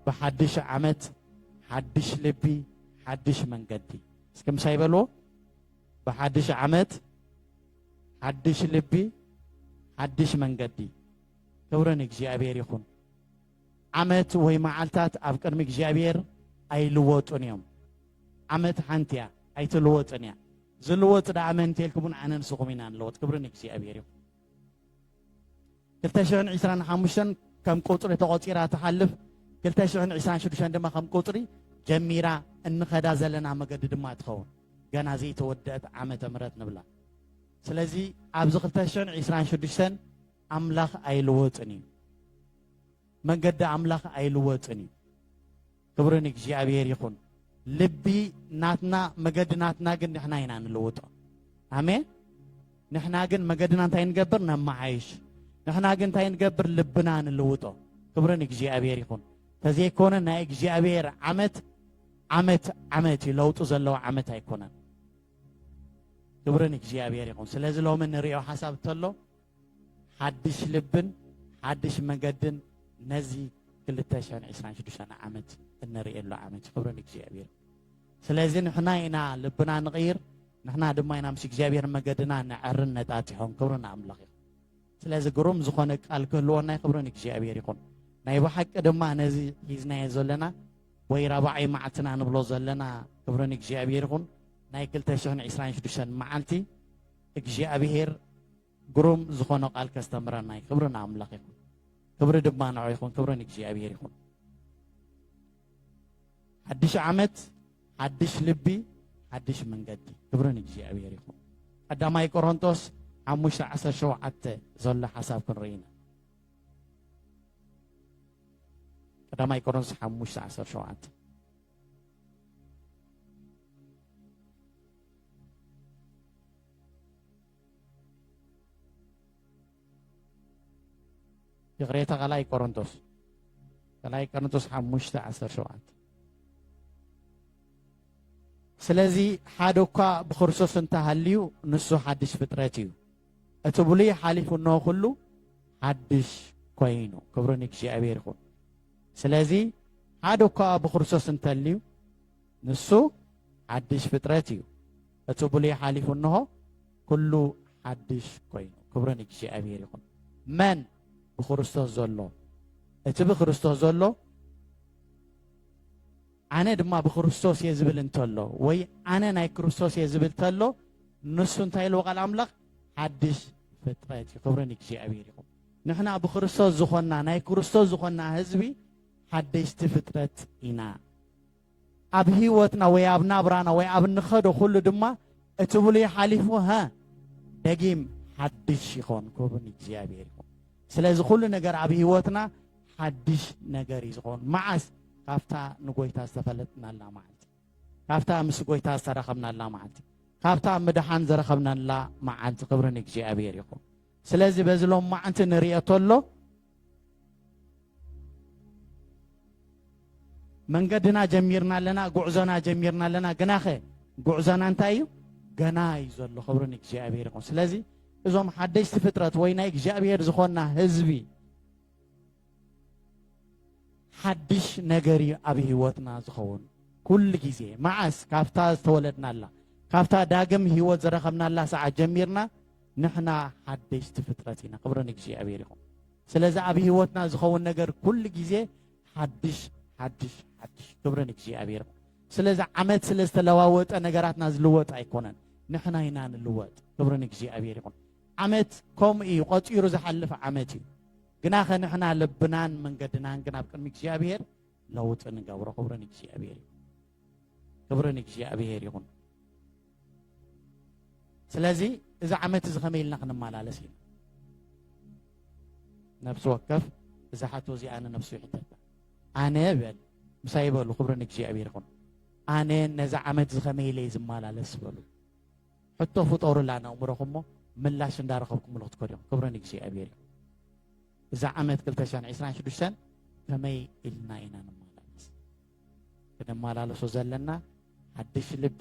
ብሓድሽ ዓመት ሓድሽ ልቢ ሓድሽ መንገዲ እስኪ ምሳይ በልዎ ብሓድሽ ዓመት ሓድሽ ልቢ ሓድሽ መንገዲ ክብሪ ንእግዚኣብሔር ይኹን ዓመት ወይ መዓልታት ኣብ ቅድሚ እግዚኣብሔር ኣይልወጡን እዮም ዓመት ሓንቲ እያ ኣይትልወጥን እያ ዝልወጥ ደኣ መን እንተልኩምን ኣነ ንስኹም ኢና ንለወጥ ክብሪ ንእግዚኣብሔር ይኹን ክልተ ሽሕን ዒስራን ሓሙሽተን ከም ቁፅሪ ተቖፂራ ትሓልፍ ክልተ ሽሕን ዒስራን ሽዱሽተን ድማ ከም ቁፅሪ ጀሚራ እንኸዳ ዘለና መገዲ ድማ ትኸውን ገና ዘይተወደአት ዓመተ ምሕረት ንብላ ስለዚ ኣብዚ ክልተ ሽሕን ዒስራን ሽዱሽተን ኣምላኽ ኣይልወጥን እዩ መንገዲ ኣምላኽ ኣይልወጥን እዩ ክብሪ ንእግዚኣብሔር ይኹን። ልቢ ናትና መገዲ ናትና ግን ንሕና ኢና ንልውጦ። ኣሜን። ንሕና ግን መገድና እንታይ ንገብር ነመዓይሽ። ንሕና ግን እንታይ ንገብር ልብና ንልውጦ። ክብሪ ንእግዚኣብሔር ይኹን። ተዘይኮነ ናይ እግዚኣብሔር ዓመት ዓመት ዓመት እዩ ለውጢ ዘለዎ ዓመት ኣይኮነን። ክብሪ ንእግዚኣብሔር ይኹን። ስለዚ ሎሚ ንሪኦ ሓሳብ እንተሎ ሓድሽ ልብን ሓድሽ መገድን ነዚ ክልተ ሽሕን ዕስራን ሽዱሽተን ዓመት እንርእየሉ ዓመት እዩ ክብሪ ንእግዚኣብሔር ስለዚ ንሕና ኢና ልብና ንቕይር ንሕና ድማ ኢና ምስ እግዚኣብሔር መገድና ነዐርን ነጣጢሖን ክብሪ ንኣምላኽ እዩ ስለዚ ግሩም ዝኾነ ቃል ክህልወና እዩ ክብሪ ንእግዚኣብሔር ይኹን ናይ ብሓቂ ድማ ነዚ ሒዝናዮ ዘለና ወይ ራብዓይ መዓልትና ንብሎ ዘለና ክብሪ ንእግዚኣብሔር ይኹን ናይ 226 መዓልቲ እግዚኣብሄር ግሩም ዝኾነ ቃል ከስተምረና እዩ። ክብሪ ንኣምላኽ ይኹን፣ ክብሪ ድማ ንዑ ይኹን፣ ክብሪ ንእግዚኣብሄር ይኹን። ሓድሽ ዓመት፣ ሓድሽ ልቢ፣ ሓድሽ መንገዲ፣ ክብሪ ንእግዚኣብሄር ይኹን። ቀዳማይ ቆሮንቶስ ሓሙሽተ ዓሰርተ ሸውዓተ ዘሎ ሓሳብ ክንርኢ ኢና። ቀዳማይ ቆሮንቶስ ሓሙሽተ ዓሰርተ ሸውዓተ ይቕሬታ ካልኣይ ቆሮንቶስ ካልኣይ ቆሮንቶስ ሓሙሽተ ዓሰርተ ሸውዓተ ስለዚ ሓደ እኳ ብክርስቶስ እንተሃልዩ ንሱ ሓድሽ ፍጥረት እዩ እቲ ብሉይ ሓሊፉ እንሆ ኩሉ ሓድሽ ኮይኑ ክብሩ ንእግዚኣብሔር ይኹን ስለዚ ሓደ እኳ ብክርስቶስ እንተልዩ ንሱ ሓድሽ ፍጥረት እዩ፣ እቲ ብሉይ ሓሊፉ እንሆ ኩሉ ሓድሽ ኮይኑ። ክብሪ ንእግዚኣብሔር ይኹን። መን ብክርስቶስ ዘሎ እቲ ብክርስቶስ ዘሎ ኣነ ድማ ብክርስቶስ እየ ዝብል እንተሎ ወይ ኣነ ናይ ክርስቶስ እየ ዝብል ተሎ ንሱ እንታይ ኢልዎ ቃል ኣምላኽ ሓድሽ ፍጥረት እዩ ክብሪ ንእግዚኣብሔር ይኹን ንሕና ብክርስቶስ ዝኾንና ናይ ክርስቶስ ዝኾንና ህዝቢ ሓደሽቲ ፍጥረት ኢና ኣብ ህይወትና ወይ ኣብ ናብራና ወይ ኣብ እንኸዶ ኩሉ ድማ እቲ ብሉይ ሓሊፉ ሃ ደጊም ሓድሽ ይኾን ክብን እግዚኣብሔር ይኹን። ስለዚ ኩሉ ነገር ኣብ ህይወትና ሓድሽ ነገር እዩ ዝኾን መዓስ ካብታ ንጎይታ ዝተፈለጥናላ መዓልቲ ካብታ ምስ ጎይታ ዝተረኸብናላ መዓልቲ ካብታ ምድሓን ዝረኸብናላ መዓልቲ ክብርን እግዚኣብሔር ይኹን። ስለዚ በዚ ሎም መዓልቲ ንርእዮ ተሎ መንገድና ጀሚርና ኣለና ጉዕዞና ጀሚርና ኣለና ግናኸ ጉዕዞና እንታይ እዩ ገና እዩ ዘሎ ክብሪ ንእግዚኣብሔር ይኹን ስለዚ እዞም ሓደሽቲ ፍጥረት ወይ ናይ እግዚኣብሔር ዝኾና ህዝቢ ሓድሽ ነገር እዩ ኣብ ህይወትና ዝኸውን ኩሉ ግዜ መዓስ ካብታ ዝተወለድናላ ካብታ ዳግም ህይወት ዝረኸብናላ ሰዓት ጀሚርና ንሕና ሓደሽቲ ፍጥረት ኢና ክብሪ ንእግዚኣብሔር ይኹን ስለዚ ኣብ ህይወትና ዝኸውን ነገር ኩሉ ግዜ ሓድሽ ሓድሽ ሓድሽ ክብሪ ንእግዚኣብሔር ይኹን ስለዚ ዓመት ስለ ዝተለዋወጠ ነገራትና ዝልወጥ ኣይኮነን ንሕና ኢና ንልወጥ ክብሪ ንእግዚኣብሔር ይኹን ዓመት ከምኡ እዩ ቆፂሩ ዝሓልፍ ዓመት እዩ ግና ከንሕና ልብናን መንገድናን ግን ኣብ ቅድሚ እግዚኣብሔር ለውጢ ንገብሮ ክብሪ ንእግዚኣብሔር እዩ ክብሪ ንእግዚኣብሔር ይኹን። ስለዚ እዚ ዓመት እዚ ከመይ ኢልና ክንመላለስ ኢና ነብሲ ወከፍ እዛ ሓቶ እዚኣ ንነብሱ ይሕተታ ኣነ በል ምሳይ በሉ ክብሪ ንእግዚኣብሔር ይኹን ኣነ ነዚ ዓመት እዚ ከመይ ኢለይ ዝመላለስ በሉ ሕቶ ፍጠሩላ ነእምሮኹም እሞ ምላሽ እንዳረኸብኩምሉ ክትከዱ ኢኹም ክብሪ ንእግዚኣብሔር ይኹን እዛ ዓመት 226 ከመይ ኢልና ኢና ንመላለስ ክነመላለሶ ዘለና ሓድሽ ልቢ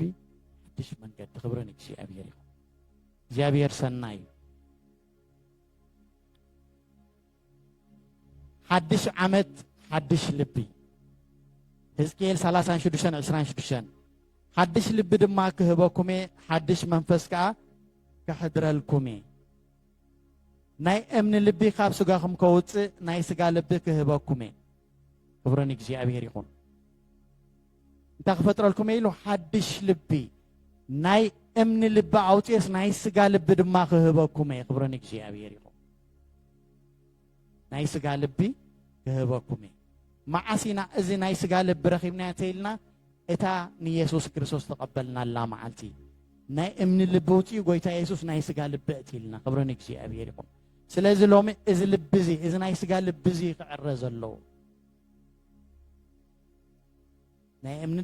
ሓድሽ መንገዲ ክብሪ ንእግዚኣብሔር ይኹን እግዚኣብሔር ሰናይ እዩ ሓድሽ ዓመት ሓድሽ ልቢ ህዝቅኤል 36 26 ሓድሽ ልቢ ድማ ክህበኩም እየ ሓድሽ መንፈስ ከዓ ከሕድረልኩም እየ ናይ እምኒ ልቢ ካብ ስጋኹም ከውፅእ ናይ ስጋ ልቢ ክህበኩም እየ ክብሪ ንእግዚኣብሔር ይኹን እንታይ ክፈጥረልኩም እየ ኢሉ ሓድሽ ልቢ ናይ እምኒ ልቢ ኣውፅኦስ ናይ ስጋ ልቢ ድማ ክህበኩም እየ ክብሪ ንእግዚኣብሔር ይኹን ናይ ስጋ ልቢ ክህበኩም እየ መዓስ ኢና እዚ ናይ ስጋ ልቢ ረኺብና ተኢልና እታ ንየሱስ ክርስቶስ ተቐበልናላ መዓልቲ ናይ እምኒ ልቢ ውፅኡ ጎይታ የሱስ ናይ ስጋ ልቢ እትኢልና ክብሪ ንእግዚኣብሔር ይኹን ስለዚ ሎሚ እዚ ልቢ እዚ እዚ ናይ ስጋ ልቢ እዚ ክዕረ ዘለዎ ናይ እምኒ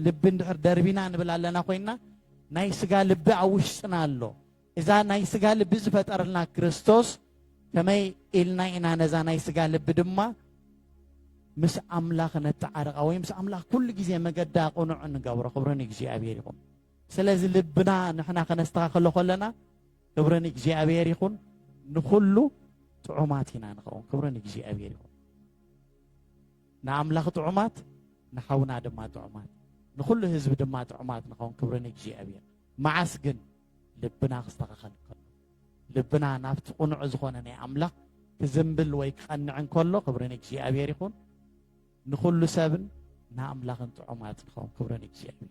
ልቢ እንድሕር ደርቢና ንብል ኣለና ኮይና ናይ ስጋ ልቢ ኣብ ውሽጥና ኣሎ እዛ ናይ ስጋ ልቢ ዝፈጠረልና ክርስቶስ ከመይ ኢልና ኢና ነዛ ናይ ስጋ ልቢ ድማ ምስ ኣምላኽ ነተዓርቃ ወይ ምስ ኣምላኽ ኩሉ ግዜ መገዳ ቅኑዕ ንገብሮ ክብሪ ንእግዚኣብሔር ይኹን ስለዚ ልብና ንሕና ከነስተኻኸሎ ከለና ክብሪ ንእግዚኣብሔር ይኹን ንኹሉ ጥዑማት ኢና ንኸውን ክብሪ ንእግዚኣብሔር ይኹን ንኣምላኽ ጥዑማት ንሓውና ድማ ጥዑማት ንኹሉ ህዝቢ ድማ ጥዑማት ንኸውን ክብሪ ንእግዚኣብሔር መዓስ ግን ልብና ክስተኻኸል ከሎ ልብና ናብቲ ቁኑዕ ዝኾነ ናይ ኣምላኽ ክዝንብል ወይ ክቐንዕ እንከሎ ክብሪ ንእግዚኣብሔር ይኹን ንኹሉ ሰብን ንኣምላኽን ጥዑማት ንኸውን ክብሪ ንእግዚኣብሔር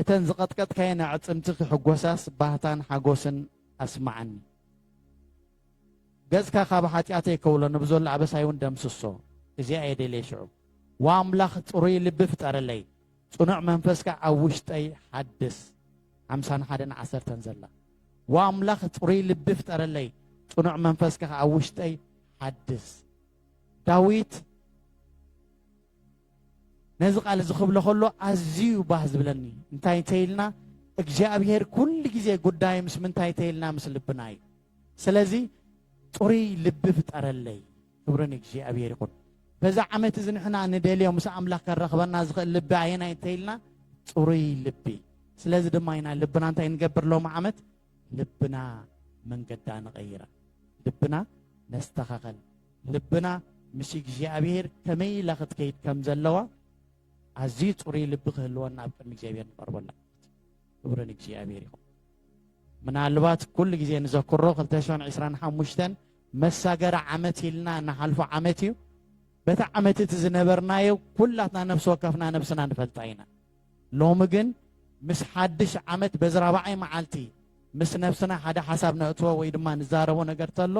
እተን ዝቐጥቀጥካየን ኣዕጽምቲ ክሕጎሳስ ባህታን ሓጎስን ኣስምዓኒ። ገጽካ ካብ ሓጢኣተይ ከውሎ፣ ንብዘሎ ኣበሳይውን ደምስሶ። እዚኣ እየ ደልየ ሽዑ። ዋእ ኣምላኽ ጽሩይ ልቢ ፍጠረለይ፣ ጽኑዕ መንፈስ ከኣ ኣብ ውሽጠይ ሓድስ። ሓምሳን ሓደን ዓሰርተን ዘላ። ዋእ ኣምላኽ ጽሩይ ልቢ ፍጠረለይ፣ ጽኑዕ መንፈስ ከኣ ኣብ ውሽጠይ ሓድስ። ዳዊት ነዚ ቃል እዚ ክብሎ ከሎ ኣዝዩ ባህ ዝብለኒ እንታይ እንተይልና እግዚኣብሄር ኩሉ ግዜ ጉዳይ ምስ ምንታይ እንተይልና ምስ ልብና እዩ ስለዚ ጥሩይ ልቢ ፍጠረለይ ክብሪ ንእግዚኣብሄር ይኹን በዛ ዓመት እዚ ንሕና ንደልዮ ምስ ኣምላኽ ከራኽበና ዝኽእል ልቢ ኣየናይ እንተይልና ጥሩይ ልቢ ስለዚ ድማ ኢና ልብና እንታይ ንገብር ሎሚ ዓመት ልብና መንገዳ ንቐይራ ልብና ነስተኻኸል ልብና ምስ እግዚኣብሄር ከመይ ኢላ ክትከይድ ከም ዘለዋ ኣዝዩ ፅሩይ ልቢ ክህልወና ኣብ ቅድሚ እግዚኣብሄር ንቐርቦ ኣለና ክብሪ ንእግዚኣብሄር ይኹን ምናልባት ኩሉ ግዜ ንዘክሮ 225 መሳገሪ ዓመት ኢልና ንሓልፎ ዓመት እዩ በቲ ዓመት እቲ ዝነበርናዮ ኩላትና ነፍሲ ወከፍና ነብስና ንፈልጣ ኢና ሎሚ ግን ምስ ሓድሽ ዓመት በዚ ራብዓይ መዓልቲ ምስ ነብስና ሓደ ሓሳብ ነእትዎ ወይ ድማ ንዛረቦ ነገር ተሎ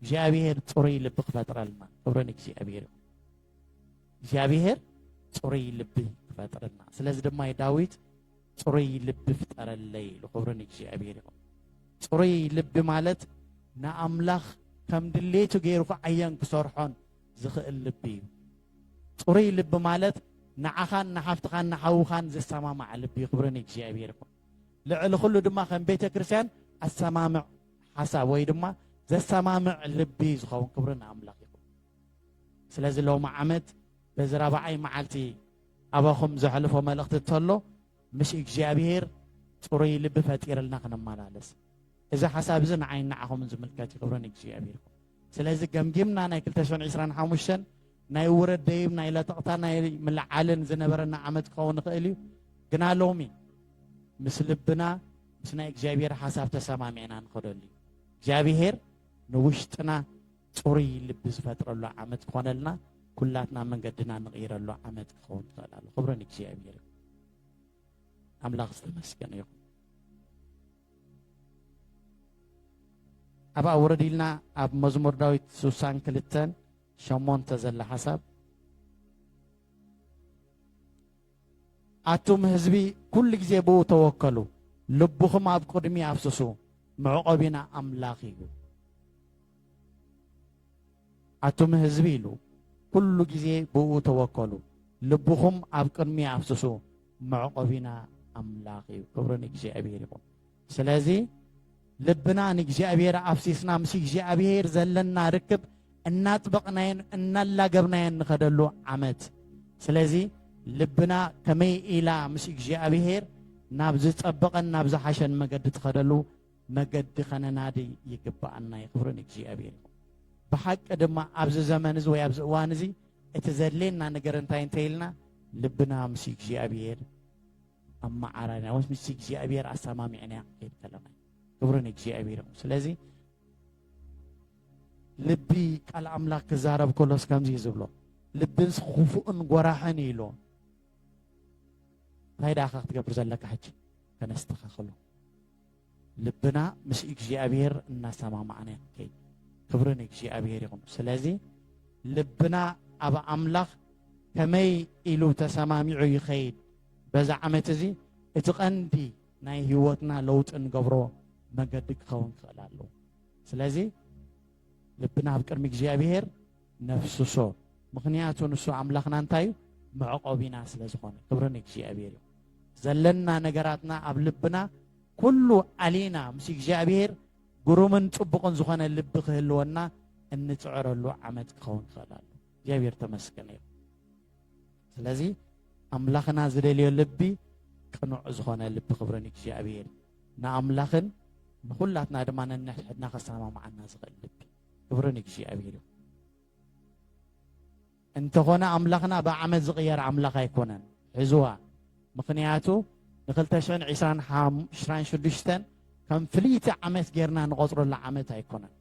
እግዚኣብሔር ጽሩይ ልቢ ክፈጥረልና ክብሪ ንእግዚኣብሔር ይኹን እግዚኣብሔር ጽሩይ ልቢ ክፈጥረልና ስለዚ ድማ ዳዊት ጽሩይ ልቢ ፍጠረለይ ኢሉ ክብሪ ንእግዚኣብሔር ይኹን ጽሩይ ልቢ ማለት ንኣምላኽ ከም ድሌቱ ገይሩ ክዓየን ክሰርሖን ዝኽእል ልቢ እዩ። ጽሩይ ልቢ ማለት ንዓኻን ንሓፍትኻን ንሓውኻን ዝሰማማዕ ልቢ እዩ። ክብሪ ንእግዚኣብሔር ይኹን። ልዕሊ ኩሉ ድማ ከም ቤተ ክርስቲያን ኣሰማምዕ ሓሳብ ወይ ድማ ዘሰማምዕ ልቢ ዝኸውን ክብሪ ንኣምላኽ ይኹን። ስለዚ ሎሚ ዓመት በዚ ራብዓይ መዓልቲ ኣባኹም ዘሕልፎ መልእኽቲ እንተሎ ምስ እግዚኣብሔር ጽሩይ ልቢ ፈጢርልና ክንመላለስ እዚ ሓሳብ እዚ ንዓይን ንዓኹምን ዝምልከት እዩ። ክብሪ ንእግዚኣብሔር ይኹን። ስለዚ ገምጊምና ናይ ክልተ ሽሕን ዕስራን ሓሙሽተን ናይ ውረድ ደይብ ናይ ለጠቕታ ናይ ምልዓልን ዝነበረና ዓመት ክኸውን ይኽእል እዩ ግና ሎሚ ምስ ልብና ምስ ናይ እግዚኣብሔር ሓሳብ ተሰማሚዕና ንኸደሉ እዩ እግዚኣብሔር ንውሽጥና ፅሩይ ልቢ ዝፈጥረሉ ዓመት ክኾነልና ኩላትና መንገድና ንቕይረሉ ዓመት ክኸውን ትኽእል ኣሎ ክብርን እግዚኣብሔር ኣምላኽ ዝተመስገነ ይኹን ኣብኣ ውርድ ኢልና ኣብ መዝሙር ዳዊት ስሳን ክልተን ሸሞንተ ዘላ ሓሳብ ኣቱም ህዝቢ ኩሉ ግዜ ብኡ ተወከሉ ልብኹም ኣብ ቅድሚ ኣፍስሱ መዕቆቢና ኣምላኽ እዩ ኣቱም ህዝቢ ኢሉ ኩሉ ግዜ ብእኡ ተወከሉ ልብኹም ኣብ ቅድሚ ኣፍስሱ መዕቆቢና ኣምላኽ እዩ ክብሪ ንእግዚኣብሔር ይኹን ስለዚ ልብና ንእግዚኣብሔር ኣፍሲስና ምስ እግዚኣብሔር ዘለና ርክብ እናጥበቕናየን እናላገብናየን ንኸደሉ ዓመት ስለዚ ልብና ከመይ ኢላ ምስ እግዚኣብሔር ናብ ዝጸበቐን ናብ ዝሓሸን መገዲ ትኸደሉ መገዲ ከነናዲ ይግብኣና እዩ ክብሪ ንእግዚኣብሔር ይኹን ብሓቂ ድማ ኣብዚ ዘመን እዚ ወይ ኣብዚ እዋን እዚ እቲ ዘድልየና ነገር እንታይ እንተይልና ልብና ምስ እግዚኣብሔር ኣመዓራርና ወይስ ምስ እግዚኣብሔር ኣሰማሚዕና ክንከይድ ከለና ክብሪ ንእግዚኣብሔር ይኹን ስለዚ ልቢ ቃል ኣምላኽ ክዛረብ ከሎስ ከምዚ እዩ ዝብሎ ልብንስ ክፉእን ጎራሕን እዩ ኢሎ እንታይ ደኣ ክትገብር ዘለካ ሕጂ ከነስተኻኽሎ ልብና ምስ እግዚኣብሔር እናሰማማዕና ክንከይድ ክብሪ ንእግዚኣብሔር ይኹን ስለዚ ልብና ኣብ ኣምላኽ ከመይ ኢሉ ተሰማሚዑ ይኸይድ በዛ ዓመት እዚ እቲ ቀንዲ ናይ ህይወትና ለውጢ ንገብሮ መገዲ ክኸውን ክኽእል ኣለዎ ስለዚ ልብና ኣብ ቅድሚ እግዚኣብሔር ነፍስሶ ምኽንያቱ ንሱ ኣምላኽና እንታይ እዩ መዕቆቢና ስለ ዝኾነ ክብሪ ንእግዚኣብሔር እዩ ዘለና ነገራትና ኣብ ልብና ኩሉ ኣሊና ምስ እግዚኣብሔር ግሩምን ጽቡቕን ዝኾነ ልቢ ክህልወና እንፅዕረሉ ዓመት ክኸውን ክኽእል ኣሎ እግዚኣብሔር ተመስገን እዩ ስለዚ ኣምላኽና ዝደልዮ ልቢ ቅኑዕ ዝኾነ ልቢ ክብሪ ንእግዚኣብሔር ንኣምላኽን ንኹላትና ድማ ነንሕድሕድና ከሰማምዓና ዝኽእል ልቢ ክብሪ ንእግዚኣብሔር ይኹን። እንተኾነ ኣምላኽና ብዓመት ዝቕየር ኣምላኽ ኣይኮነን። ሕዝዋ ምኽንያቱ ን2026 ከም ፍልይቲ ዓመት ጌርና ንቖጽረሉ ዓመት ኣይኮነን።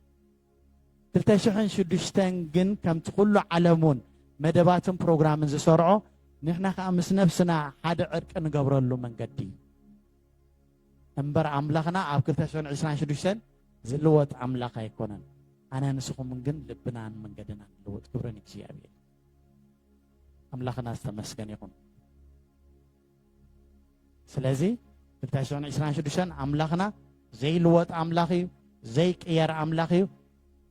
2006 ግን ከምቲ ኩሉ ዓለሙን መደባትን ፕሮግራምን ዝሰርዖ ንሕና ከዓ ምስ ነብስና ሓደ ዕርቂ ንገብረሉ መንገዲ እዩ። እምበር ኣምላኽና ኣብ ክልተ ሽሕን ዕስራን ሽዱሽተን ዝልወጥ ኣምላኽ ኣይኮነን። ኣነ ንስኹምን ግን ልብናን መንገድናን ንልወጥ። ክብሪ ንእግዚኣብሔር። ኣምላኽና ዝተመስገን ይኹን። ስለዚ ክልተ ሽሕን ዕስራን ሽዱሽተን ኣምላኽና ዘይልወጥ ኣምላኽ እዩ፣ ዘይቅየር ኣምላኽ እዩ።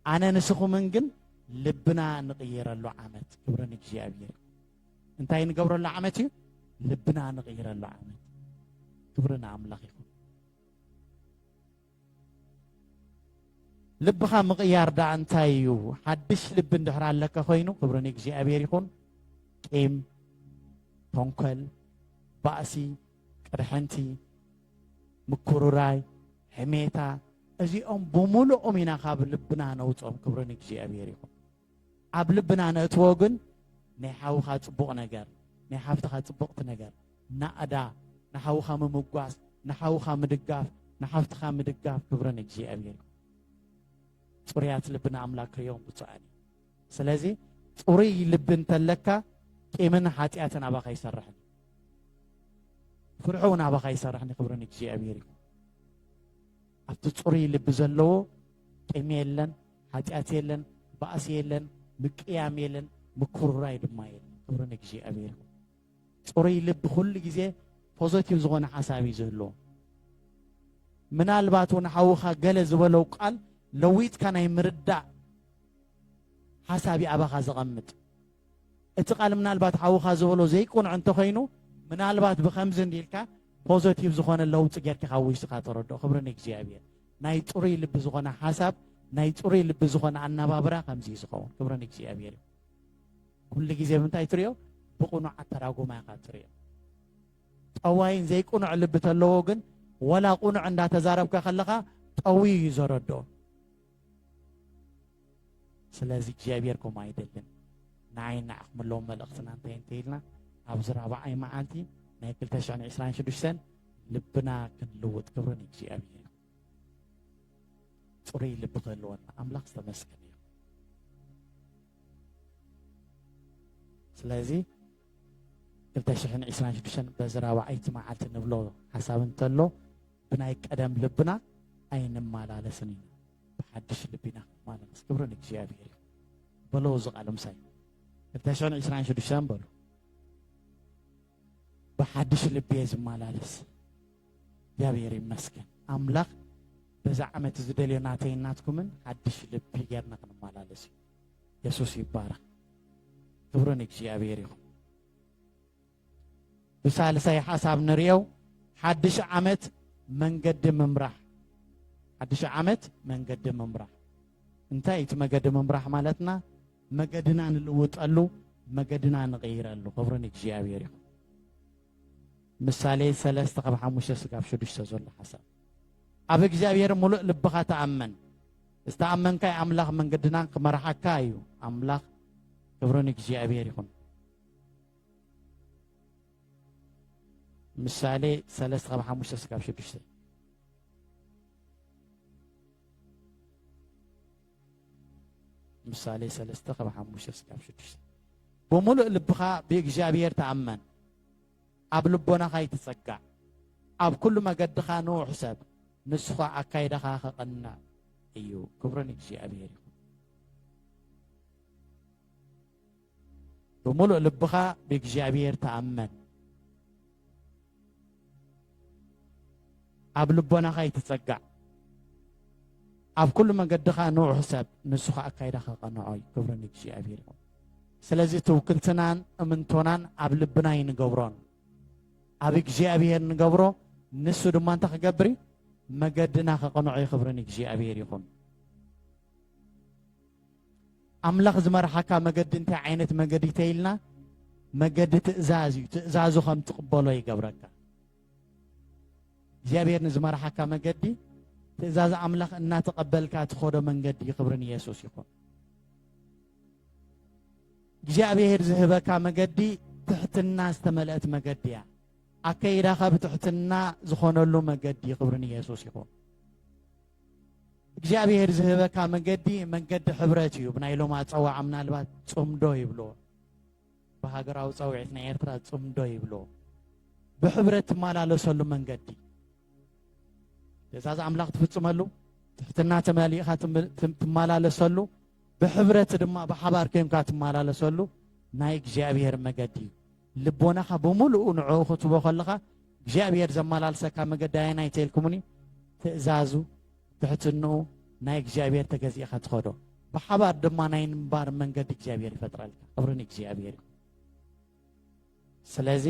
ኣነ ንስኹምን ግን ልብና ንቕይረሉ ዓመት። ክብሪ ንእግዚኣብሔር። እንታይ ንገብረሉ ዓመት እዩ ልብና ንቕይረሉ ዓመት ክብሪ ንኣምላኽ ይኹን ልብኻ ምቕያር ደኣ እንታይ እዩ ሓድሽ ልቢ እንድሕር ኣለካ ኮይኑ ክብሪ ንእግዚኣብሔር ይኹን ቂም ተንኮል ባእሲ ቅርሕንቲ ምኩርራይ ሕሜታ እዚኦም ብምሉኦም ኢና ካብ ልብና ነውፅኦም ክብሪ ንእግዚኣብሔር ይኹን ኣብ ልብና ነእትዎ ግን ናይ ሓውኻ ጽቡቕ ነገር ናይ ሓፍትኻ ጽብቕቲ ነገር ናእዳ ንሓውኻ ምምጓስ ንሓውኻ ምድጋፍ ንሓፍትኻ ምድጋፍ ክብሪ ንእግዚኣብሔር ጽሩያት ልቢ ንኣምላክ ክርእዮም ብፁዓን እዩ ስለዚ ጽሩይ ልቢ እንተለካ ቂምን ሓጢኣትን ኣባኻ ይሰርሕን ፍርሒ እውን ኣባኻ ይሰርሕን ክብሪ ንእግዚኣብሔር እዩ ኣብቲ ጽሩይ ልቢ ዘለዎ ቂም የለን ሓጢኣት የለን፣ ባእሲ የለን፣ ምቅያም የለን፣ ምኩርራይ ድማ የለን። ክብሪ ንእግዚኣብሔር ይኹን። ፅሩይ ልቢ ኩሉ ግዜ ፖዘቲቭ ዝኾነ ሓሳብ እዩ ዝህልዎ። ምናልባት እውን ሓውኻ ገለ ዝበለው ቃል ለዊጥካ ናይ ምርዳእ ሓሳብ እዩ ኣባኻ ዘቐምጥ። እቲ ቃል ምናልባት ሓውኻ ዝበሎ ዘይቁንዕ እንተኾይኑ ምናልባት ብከምዚ እንዲልካ ፖዘቲቭ ዝኾነ ለውጢ ጌርካ ካብ ውሽጥኻ ተረድኦ። ክብሪ ንእግዚኣብሔር። ናይ ጽሩይ ልቢ ዝኾነ ሓሳብ ናይ ጽሩይ ልቢ ዝኾነ ኣናባብራ ከምዚ እዩ ዝኸውን ክብሪ ንእግዚኣብሔር እዩ ኩሉ ግዜ ብምንታይ ትሪኦ ብቕኑዕ ኣተራጉማ ኢኻ ትሪኦ ጠዋይን ዘይቅኑዕ ልቢ ተለዎ ግን ወላ ቅኑዕ እንዳተዛረብካ ከለኻ ጠውዩ እዩ ዘረድኦ ስለዚ እግዚኣብሔር ከምኡ ኣይደልን ንዓይ ንዓኹም ኣለዎ መልእኽትና እንታይ እንተይልና ኣብዚ ራብዓይ መዓልቲ ናይ 226 ልብና ክንልውጥ ክብሪ ንእግዚኣብሔር ፅሩይ ልቢ ክህልወና ኣምላኽ ዝተመስገነ እዩ ስለዚ 226 በዚ ራብዓይቲ መዓልቲ ንብሎ ሓሳብ እንተሎ ብናይ ቀደም ልብና ኣይንመላለስን ኢና ብሓድሽ ልቢ ኢና ክንማለስ ክብሪ ንእግዚኣብሔር ይኹን በሎ እዚ ቃል ምሳይ ክልተ ሽሕን ዕስራን ሽዱሽተን በሉ ብሓድሽ ልቢ እየ ዝመላለስ እግዚኣብሔር ይመስገን ኣምላኽ በዛ ዓመት ዝደልዮ ናተይ ናትኩምን ሓድሽ ልቢ ጌርና ክንመላለስ እዩ የሱስ ይባረኽ ክብሪ ንእግዚኣብሔር ይኹን ብሳልሳይ ሓሳብ ንርእዮ ሓድሽ ዓመት መንገዲ ምምራሕ ሓድሽ ዓመት መንገዲ ምምራሕ እንታይ እዩ እቲ መገዲ ምምራሕ ማለትና መገድና ንልውጠሉ መገድና ንቕይረሉ ክብሪ ንእግዚኣብሔር ይኹን ምሳሌ ሰለስተ ካብ ሓሙሽተ ስጋብ ሽዱሽተ ዘሎ ሓሳብ ኣብ እግዚኣብሔር ሙሉእ ልብኻ ተኣመን ዝተኣመንካይ ኣምላኽ መንገድናን ክመርሓካ እዩ ኣምላኽ ክብሪ ንእግዚኣብሔር ይኹን ምሳሌ ሰለስተ ካብ ሓሙሽተ ስጋብ ሽዱሽተ ምሳሌ ሰለስተ ካብ ሓሙሽተ ስጋብ ሽዱሽተ ብምሉእ ልብኻ ብእግዚኣብሔር ተኣመን ኣብ ልቦናኻ ይትጸጋዕ ኣብ ኩሉ መገድኻ ንውሕ ሰብ ንስኻ ኣካይዳኻ ከቐንዕ እዩ ክብርን እግዚኣብሔር እዩ ብምሉእ ልብኻ ብእግዚኣብሔር ተኣመን ኣብ ልቦናኻ ይትጸጋዕ ኣብ ኩሉ መገድኻ ንውሕ ሰብ ንሱ ከዓ ኣካይዳኻ ቀንዖ እዩ ክብሪ ንእግዚኣብሔር ይኹን ስለዚ ትውክልትናን እምንቶናን ኣብ ልብና ይንገብሮን ኣብ እግዚኣብሔር ንገብሮ ንሱ ድማ እንታይ ክገብር እዩ መገድና ከቕንዖ ይኽብርን እግዚኣብሔር ይኹን ኣምላኽ ዝመርሓካ መገዲ እንታይ ዓይነት መገዲ ተይልና መገዲ ትእዛዝ እዩ ትእዛዙ ከም ትቕበሎ ይገብረካ እግዚኣብሔር ንዝመርሓካ መገዲ ትእዛዝ ኣምላኽ እናተቐበልካ ትኸዶ መንገዲ ክብሪ ንየሱስ ይኹን እግዚኣብሔር ዝህበካ መገዲ ትሕትና ዝተመልአት መገዲ እያ ኣከይዳኻ ብትሕትና ዝኾነሉ መገዲ ክብሪ ንየሱስ ይኹን እግዚኣብሔር ዝህበካ መንገዲ መንገዲ ሕብረት እዩ ብናይ ሎም ኣፀዋዓ ምናልባት ፅምዶ ይብሎ ብሃገራዊ ፀውዒት ናይ ኤርትራ ፅምዶ ይብሎ ብሕብረት ትመላለሰሉ መንገዲ ትእዛዝ ኣምላኽ ትፍፅመሉ ትሕትና ተመሊእኻ ትመላለሰሉ ብሕብረት ድማ ብሓባር ኮንካ ትመላለሰሉ ናይ እግዚኣብሔር መገዲ እዩ ልቦናኻ ብምሉኡ ንዕኡ ክትህቦ ከለኻ እግዚኣብሄር ዘመላልሰካ መገዲ ኣየናይ ተልኩምኒ ትእዛዙ ትሕትንኡ ናይ እግዚኣብሄር ተገዚእኻ ትኸዶ ብሓባር ድማ ናይ ምንባር መንገዲ እግዚኣብሄር ይፈጥረልካ ክብሪ ንእግዚኣብሄር እዩ ስለዚ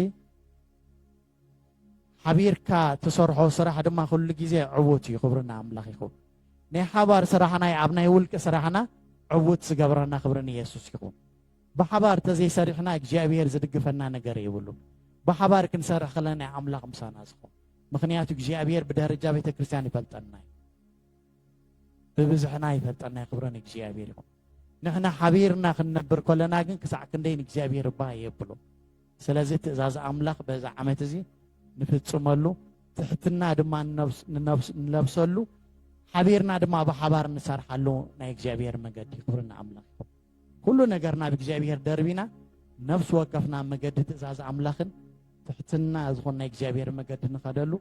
ሓቢርካ ትሰርሖ ስራሕ ድማ ኩሉ ግዜ ዕዉት እዩ ክብሪ ንኣምላኽ ይኹን ናይ ሓባር ስራሕና ኣብ ናይ ውልቂ ስራሕና ዕዉት ዝገብረና ክብሪ ንየሱስ ይኹን ብሓባር ተዘይሰሪሕና እግዚኣብሄር ዝድግፈና ነገር የብሉን ብሓባር ክንሰርሕ ከለና ኣምላኽ ምሳና ዝኾን ምክንያቱ እግዚኣብሄር ብደረጃ ቤተ ክርስቲያን ይፈልጠና እዩ ብብዝሕና ይፈልጠና ክብሪ ንእግዚኣብሄር ይኹን ንሕና ሓቢርና ክንነብር ከለና ግን ክሳዕ ክንደይ ንእግዚኣብሄር እባ የብሎ ስለዚ ትእዛዝ ኣምላኽ በዚ ዓመት እዚ ንፍጽመሉ፣ ትሕትና ድማ ንለብሰሉ፣ ሓቢርና ድማ ብሓባር ንሰርሓሉ ናይ እግዚኣብሔር መገዲ ክብሪ ንኣምላኽ ይኹን። ኩሉ ነገር ናብ እግዚኣብሔር ደርቢና ነፍሲ ወከፍና መገዲ ትእዛዝ ኣምላኽን ትሕትና ዝኾን ናይ እግዚኣብሔር መገዲ ንኸደሉ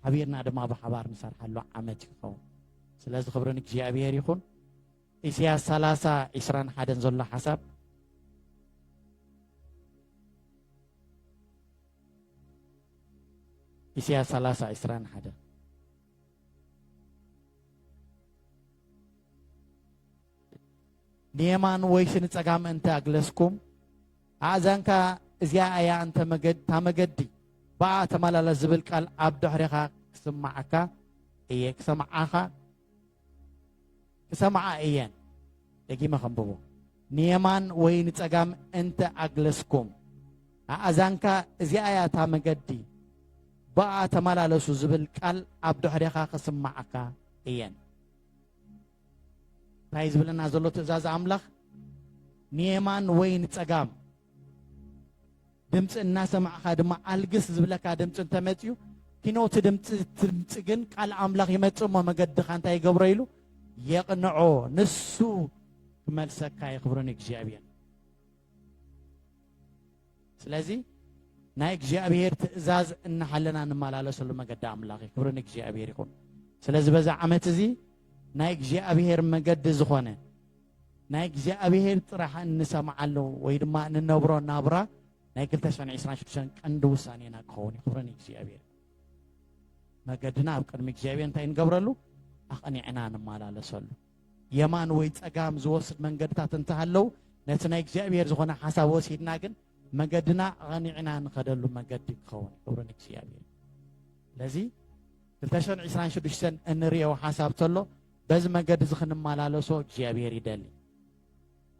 ሓቢርና ድማ ብሓባር ንሰርሓሉ ዓመት ይኸውን። ስለዚ ክብሪ ንእግዚኣብሔር ይኹን። ኢሲያስ ሰላሳ ዒስራን ሓደን ዘሎ ሓሳብ ኢሲያስ ሰላሳ ዒስራን ሓደን ንየማን ወይስ ንጸጋም እንተ ኣግለስኩም ኣእዛንካ እዚኣ እያ እንተ መገድ እታ መገዲ ብኣ ተመላለስ ዝብል ቃል ኣብ ድሕሪኻ ክስማዓካ እየ ክሰምዓኻ ክሰምዓ እየን። ደጊመ ከንብቦ ንየማን ወይ ንጸጋም እንተ ኣግለስኩም ኣእዛንካ እዚኣ እያ እታ መገዲ ብኣ ተመላለሱ ዝብል ቃል ኣብ ድሕሬኻ ክስማዓካ እየን። እንታይ ዝብለና ዘሎ ትእዛዝ ኣምላኽ ንየማን ወይ ንጸጋም ድምፂ እናሰማዕኻ ድማ ኣልግስ ዝብለካ ድምፂ እንተመፅዩ ኪኖ እቲ ድምፂ ድምፂ ግን ቃል ኣምላኽ ይመፅእ እሞ መገድኻ እንታይ ይገብሮ ኢሉ የቕንዖ ንሱ ክመልሰካ የኽብርን እግዚኣብሔር ስለዚ ናይ እግዚኣብሔር ትእዛዝ እናሃለና ንመላለሰሉ መገዲ ኣምላኽ እዩ ክብሪ ንእግዚኣብሔር ይኹን ስለዚ በዛ ዓመት እዚ ናይ እግዚኣብሔር መገዲ ዝኾነ ናይ እግዚኣብሔር ጥራሕ እንሰምዓሉ ወይ ድማ እንነብሮ ናብራ ናይ 226 ቀንዲ ውሳኔና ክኸውን እዩ ክብረ ንእግዚኣብሔር መገድና ኣብ ቅድሚ እግዚኣብሔር እንታይ ንገብረሉ ኣቕኒዕና ንመላለሰሉ የማን ወይ ፀጋም ዝወስድ መንገድታት እንተሃለው ነቲ ናይ እግዚኣብሔር ዝኾነ ሓሳብ ወሲድና ግን መገድና ኣቕኒዕና ንኸደሉ መገዲ ክኸውን ክብረ ንእግዚኣብሔር ስለዚ 226 እንሪኦ ሓሳብ ተሎ በዚ መንገዲ እዚ ክንመላለሶ እግዚኣብሔር ይደሊ።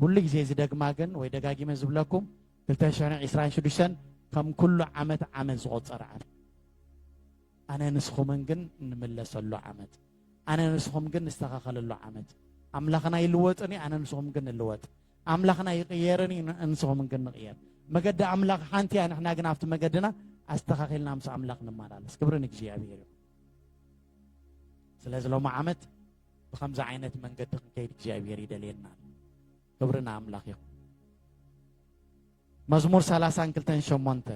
ኩሉ ግዜ ዝደግማ ግን ወይ ደጋጊመ ዝብለኩም ክልተ ሽሕን ዒስራን ሽዱሽተን ከም ኩሉ ዓመት ዓመት ዝቆፀረ ዓመት ኣነ ንስኹምን ግን እንምለሰሉ ዓመት ኣነ ንስኹም ግን ንስተኻኸለሉ ዓመት ኣምላኽና ይልወጥን እዩ ኣነ ንስኹም ግን ንልወጥ ኣምላኽና ይቕየርን እዩ ንስኹም ግን ንቕየር መገዲ ኣምላኽ ሓንቲ እያ ንሕና ግን ኣብቲ መገድና ኣስተኻኺልና ምስ ኣምላኽ ንመላለስ ክብሪ ንእግዚኣብሔር እዩ ስለዚ ሎሚ ዓመት ብከምዚ ዓይነት መንገዲ ክንከይድ እግዚኣብሔር ይደልየና ክብሪ ንኣምላኽ ይኹን መዝሙር ሰላሳን ክልተን ሸሞንተ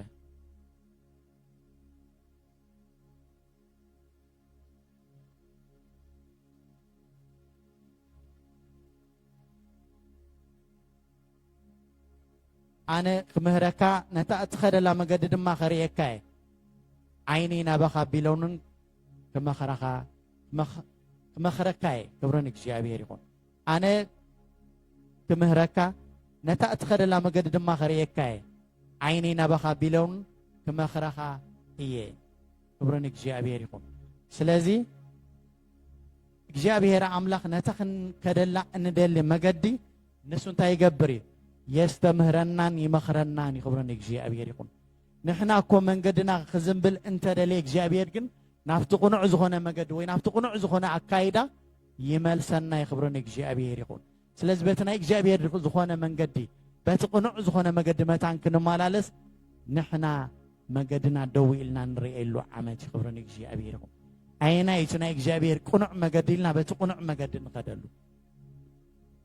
ኣነ ክምህረካ ነታ እትኸደላ መገዲ ድማ ከርእየካ እየ ዓይኒ ናባኻ ቢሎንን ክመኽረኻ ክመኽረካ እየ ክብርን እግዚኣብሔር ይኹን ኣነ ክምህረካ ነታ እትኸደላ መገዲ ድማ ከርእየካ እየ ዓይኒ ናባኻ ቢሎን ክመኽረኻ እየ ክብሪ ንእግዚኣብሔር ይኹን ስለዚ እግዚኣብሔር ኣምላኽ ነታ ክንከደላ እንደሊ መገዲ ንሱ እንታይ ይገብር እዩ? የስተምህረናን ይመኽረናን እዩ። ክብሪ ንእግዚኣብሔር ይኹን። ንሕና እኮ መንገድና ክዝንብል እንተደለየ እግዚኣብሔር ግን ናብቲ ቅኑዕ ዝኾነ መገዲ ወይ ናብቲ ቅኑዕ ዝኾነ ኣካይዳ ይመልሰና እዩ። ክብሪ ንእግዚኣብሔር ይኹን። ስለዚ በቲ ናይ እግዚኣብሔር ዝኾነ መንገዲ በቲ ቅኑዕ ዝኾነ መገዲ መታን ክንመላለስ ንሕና መገድና ደው ኢልና ንርእየሉ ዓመት እዩ። ክብሪ ንእግዚኣብሔር ይኹን። ኣየናይ እቲ ናይ እግዚኣብሔር ቅኑዕ መገዲ ኢልና በቲ ቅኑዕ መገዲ ንኸደሉ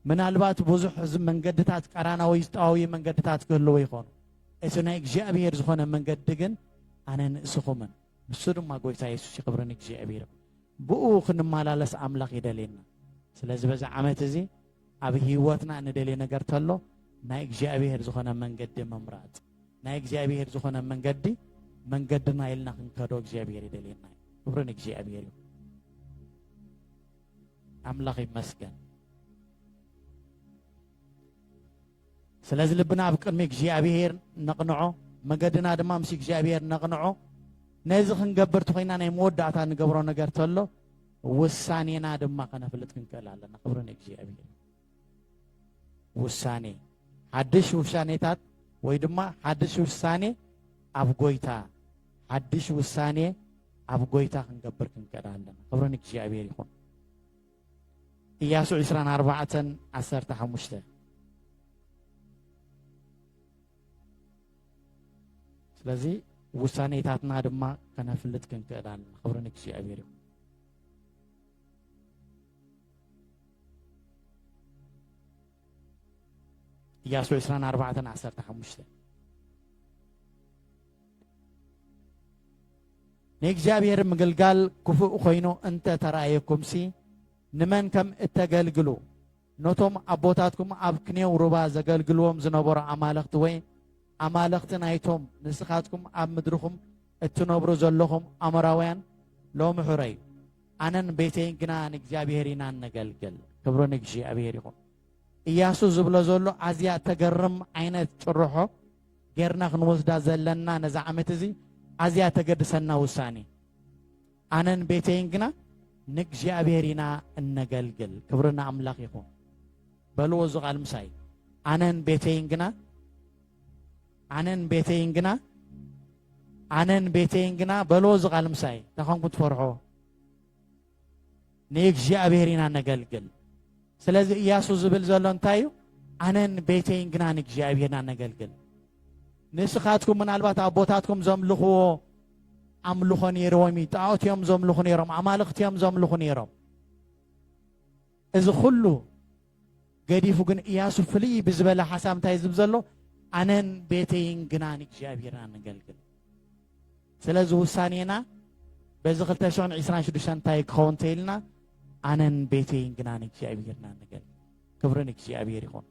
ምናልባት ብዙሕ መንገድታት ቀራና ወይ ዝጠዋዊ መንገድታት ክህልዎ ይኾኑ እቲ ናይ እግዚኣብሔር ዝኾነ መንገዲ ግን ኣነ ንእስኹምን ንሱ ድማ ጎይታ የሱስ ይኽብርን እግዚኣብሔር ብኡ ክንመላለስ ኣምላኽ ይደልየና ስለዚ በዚ ዓመት እዚ ኣብ ህይወትና ንደልየ ነገር ተሎ ናይ እግዚኣብሔር ዝኾነ መንገዲ ምምራፅ ናይ እግዚኣብሔር ዝኾነ መንገዲ መንገድና ኢልና ክንከዶ እግዚኣብሔር ይደልየና ክብርን እግዚኣብሔር እዩ ኣምላኽ ይመስገን። ስለዚ ልብና ኣብ ቅድሚ እግዚኣብሄር ነቕንዖ፣ መገድና ድማ ምስ እግዚኣብሄር ነቕንዖ። ነዚ ክንገብር ተኮይና ናይ መወዳእታ ንገብሮ ነገር ተሎ ውሳኔና ድማ ከነፍልጥ ክንክእል ኣለና። ክብሪ ንእግዚኣብሄር። ውሳኔ ሓድሽ ውሻኔታት ወይ ድማ ሓድሽ ውሳኔ ኣብ ጎይታ ሓድሽ ውሳኔ ኣብ ጎይታ ክንገብር ክንቀዳ ኣለና ክብሪ ንእግዚኣብሔር ይኹን ኢያሱ 24 15 ስለዚ ውሳኔታትና ድማ ከነፍልጥ ክንክእል ኣለና ክብሪ ንእግዚኣብሔር ይኹን ኢያሱ ዕስራን ኣርባዕተን ዓሰርተ ሓሙሽተ ንእግዚኣብሔር ምግልጋል ክፉእ ኮይኑ እንተ ተራእየኩምሲ ንመን ከም እተገልግሉ ነቶም ኣቦታትኩም ኣብ ክንየው ሩባ ዘገልግልዎም ዝነበሩ ኣማለኽቲ ወይ ኣማለኽቲ ናይቶም ንስኻትኩም ኣብ ምድርኹም እትነብሩ ዘለኹም ኣሞራውያን ሎሚ ሕረዩ ኣነን ቤተይን ግና ንእግዚኣብሔር ኢና እነገልግል። ክብሪ ንእግዚኣብሔር ይኹን። እያሱ ዝብሎ ዘሎ ኣዝያ ተገርም ዓይነት ጭርሖ ጌርና ክንወስዳ ዘለና ነዚ ዓመት እዚ ኣዝያ ተገድሰና ውሳኔ ኣነን ቤተይን ግና ንእግዚኣብሔር ኢና እነገልግል ክብርና ኣምላኽ ይኹን በልዎ እዚ ቃል ምሳይ ኣነን ቤተይን ግና ኣነን ቤተይን ግና ኣነን ቤተይን ግና በሎ እዚ ቃል ምሳይ እንታይ ኮንኩ ትፈርሖ ንእግዚኣብሔር ኢና ነገልግል ስለዚ እያሱ ዝብል ዘሎ እንታይ እዩ ኣነን ቤተይን ግና ንእግዚኣብሔርና ነገልግል ንስኻትኩም ምናልባት ኣቦታትኩም ዘምልኽዎ ኣምልኾ ነይርዎም እዩ ጣዖት እዮም ዘምልኹ ነይሮም ኣማልኽቲ እዮም ዘምልኹ ነይሮም እዚ ኩሉ ገዲፉ ግን ኢያሱ ፍልይ ብዝበለ ሓሳብ እንታይ ዝብ ዘሎ ኣነን ቤተይን ግና ንእግዚኣብሔርና ንገልግል ስለዚ ውሳኔና በዚ 226 እንታይ ክኸውን ተይልና ኣነን ቤተይን ግና ንእግዚኣብሔርና ንገል ክብሪ ንእግዚኣብሔር ይኹን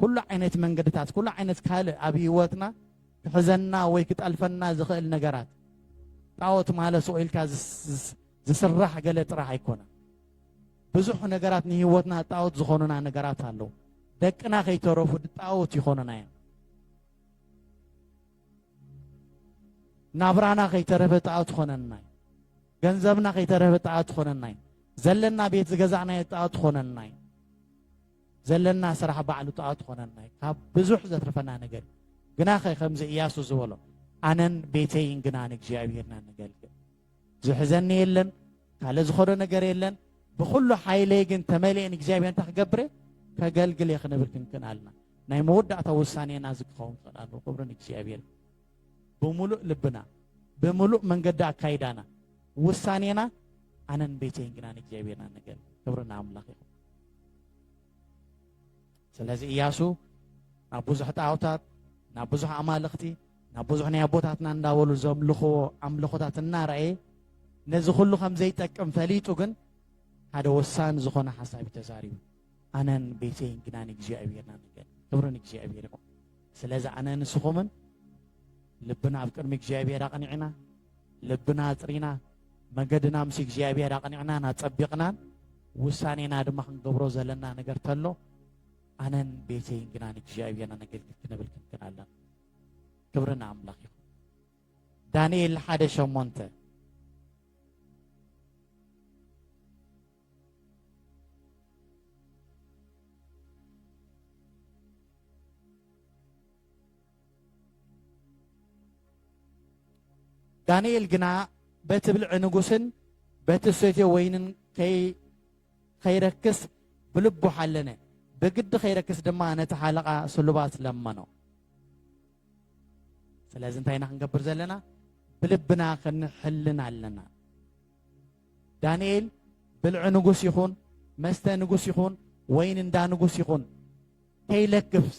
ኩሉ ዓይነት መንገድታት ኩሉ ዓይነት ካልእ ኣብ ህይወትና ክሕዘና ወይ ክጠልፈና ዝኽእል ነገራት ጣዖት ማለት ኢልካ ዝስራሕ ገለ ጥራሕ ኣይኮነን ብዙሕ ነገራት ንህይወትና ጣዖት ዝኾኑና ነገራት ኣለዉ ደቅና ከይተረፉ ጣዖት ይኾኑና እዮም ናብራና ከይተረፈ ጣዖት ይኾነና እዩ ገንዘብና ከይተረፈ ጣዖት ይኾነና እዩ ዘለና ቤት ዝገዛእናዮ ጣዖት ይኾነና እዩ ዘለና ስራሕ ባዕሉ ጣዖት ይኾነና እዩ ካብ ብዙሕ ዘትርፈና ነገር ግናኸ ከምዚ እያሱ ዝበሎ ኣነን ቤተይን ግና ንእግዚኣብሔርና ንገልግል ዝሕዘኒ የለን ካልእ ዝኾዶ ነገር የለን ብኩሉ ሓይለይ ግን ተመሊኤ ንእግዚኣብሔር እንታይ ክገብር እየ ከገልግል እየ ክንብል ክንክን ኣለና ናይ መወዳእታ ውሳኔና እዚ ክኸውን ክኽእል ኣለዎ ክብሪ ንእግዚኣብሔር ብምሉእ ልብና ብምሉእ መንገዲ ኣካይዳና ውሳኔና ኣነን ቤተይን ግና ንእግዚኣብሔርና ነገር ክብሪ ንኣምላኽ ይኹን ስለዚ እያሱ ናብ ብዙሕ ጣዖታት፣ ናብ ብዙሕ ኣማልኽቲ፣ ናብ ብዙሕ ናይ ኣቦታትና እንዳበሉ ዘምልኽዎ ኣምልኾታት እናረኣየ ነዚ ኩሉ ከም ዘይጠቅም ፈሊጡ ግን ሓደ ወሳኒ ዝኾነ ሓሳብ ተዛሪቡ ኣነን ቤተይን ግና ንእግዚኣብሔርና ንገ ክብሪ ንእግዚኣብሔር ይኹን ስለዚ ኣነ ንስኹምን ልብና ኣብ ቅድሚ እግዚኣብሔር ኣቕኒዕና ልብና ኣጽሪና መንገድና ምስ እግዚኣብሔር ኣቕኒዕናን ኣጸቢቕናን ውሳኔና ድማ ክንገብሮ ዘለና ነገር ተሎ ኣነን ቤተይን ግና ንእግዚኣብሔር ነገልግል ክንብል ክንክን ኣለና ክብሪ ንኣምላኽ ይኹን ዳንኤል ሓደ ሸሞንተ ዳንኤል ግና በቲ ብልዒ ንጉስን በቲ ሰትዮ ወይንን ከይረክስ ብልቡ ሓለነ ብግዲ ከይረክስ ድማ ነቲ ሓለቓ ስሉባት ለመኖ ስለዚ እንታይ ኢና ክንገብር ዘለና ብልብና ክንሕልን ኣለና ዳንኤል ብልዒ ንጉስ ይኹን መስተ ንጉስ ይኹን ወይን እንዳ ንጉስ ይኹን ከይለክፍስ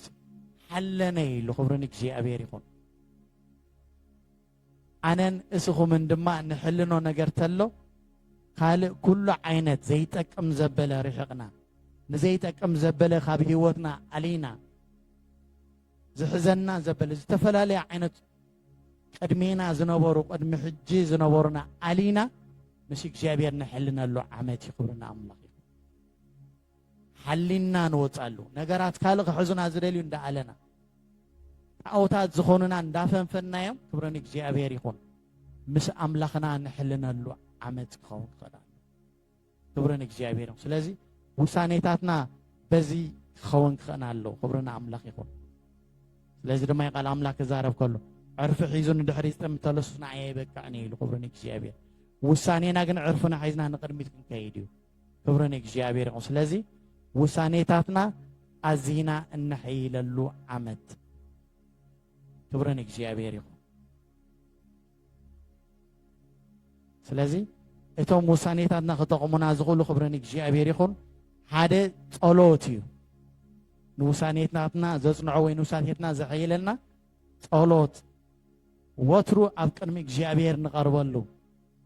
ሓለነ ኢሉ ክብሪ ንእግዚኣብሔር ይኹን ኣነን እስኹምን ድማ ንሕልኖ ነገር ተሎ ካልእ ኩሉ ዓይነት ዘይጠቅም ዘበለ ርሕቕና ንዘይጠቅም ዘበለ ካብ ህይወትና ኣሊና ዝሕዘና ዘበለ ዝተፈላለየ ዓይነት ቅድሜና ዝነበሩ ቅድሚ ሕጂ ዝነበሩና ኣሊና ምስ እግዚኣብሔር ንሕልነሉ ዓመት እዩ ክብርና ኣምላኽ እዩ ሓሊና ንወፃሉ ነገራት ካልእ ክሕዙና ዝደልዩ እንዳኣለና ጣዖታት ዝኾኑና እንዳፈንፈናዮም ክብርን እግዚኣብሔር ይኹን ምስ ኣምላኽና ንሕልነሉ ዓመት ክኸውን ይኽእል ክብሪ ንእግዚኣብሔር ይኹን። ስለዚ ውሳኔታትና በዚ ክኸውን ክኽእን ኣለዎ። ክብሪ ንኣምላኽ ይኹን። ስለዚ ድማ ቃል ኣምላክ ክዛረብ ከሎ ዕርፊ ሒዙ ንድሕሪ ዝጥም ተለሱስ ንዓይ ኣይበቅዕን እዩ ኢሉ ክብሪ ንእግዚኣብሔር። ውሳኔና ግን ዕርፍና ሒዝና ንቅድሚት ክንከይድ እዩ። ክብሪ ንእግዚኣብሔር ይኹን። ስለዚ ውሳኔታትና ኣዚና እነሐይለሉ ዓመት ክብሪ ንእግዚኣብሔር ይኹን። ስለዚ እቶም ውሳኔታትና ክጠቕሙና ዝኽእሉ ክብሪ ንእግዚኣብሔር ይኹን ሓደ ጸሎት እዩ ንውሳኔታትና ዘጽንዖ ወይ ንውሳኔትና ዘሐይለና ጸሎት ወትሩ ኣብ ቅድሚ እግዚኣብሔር ንቐርበሉ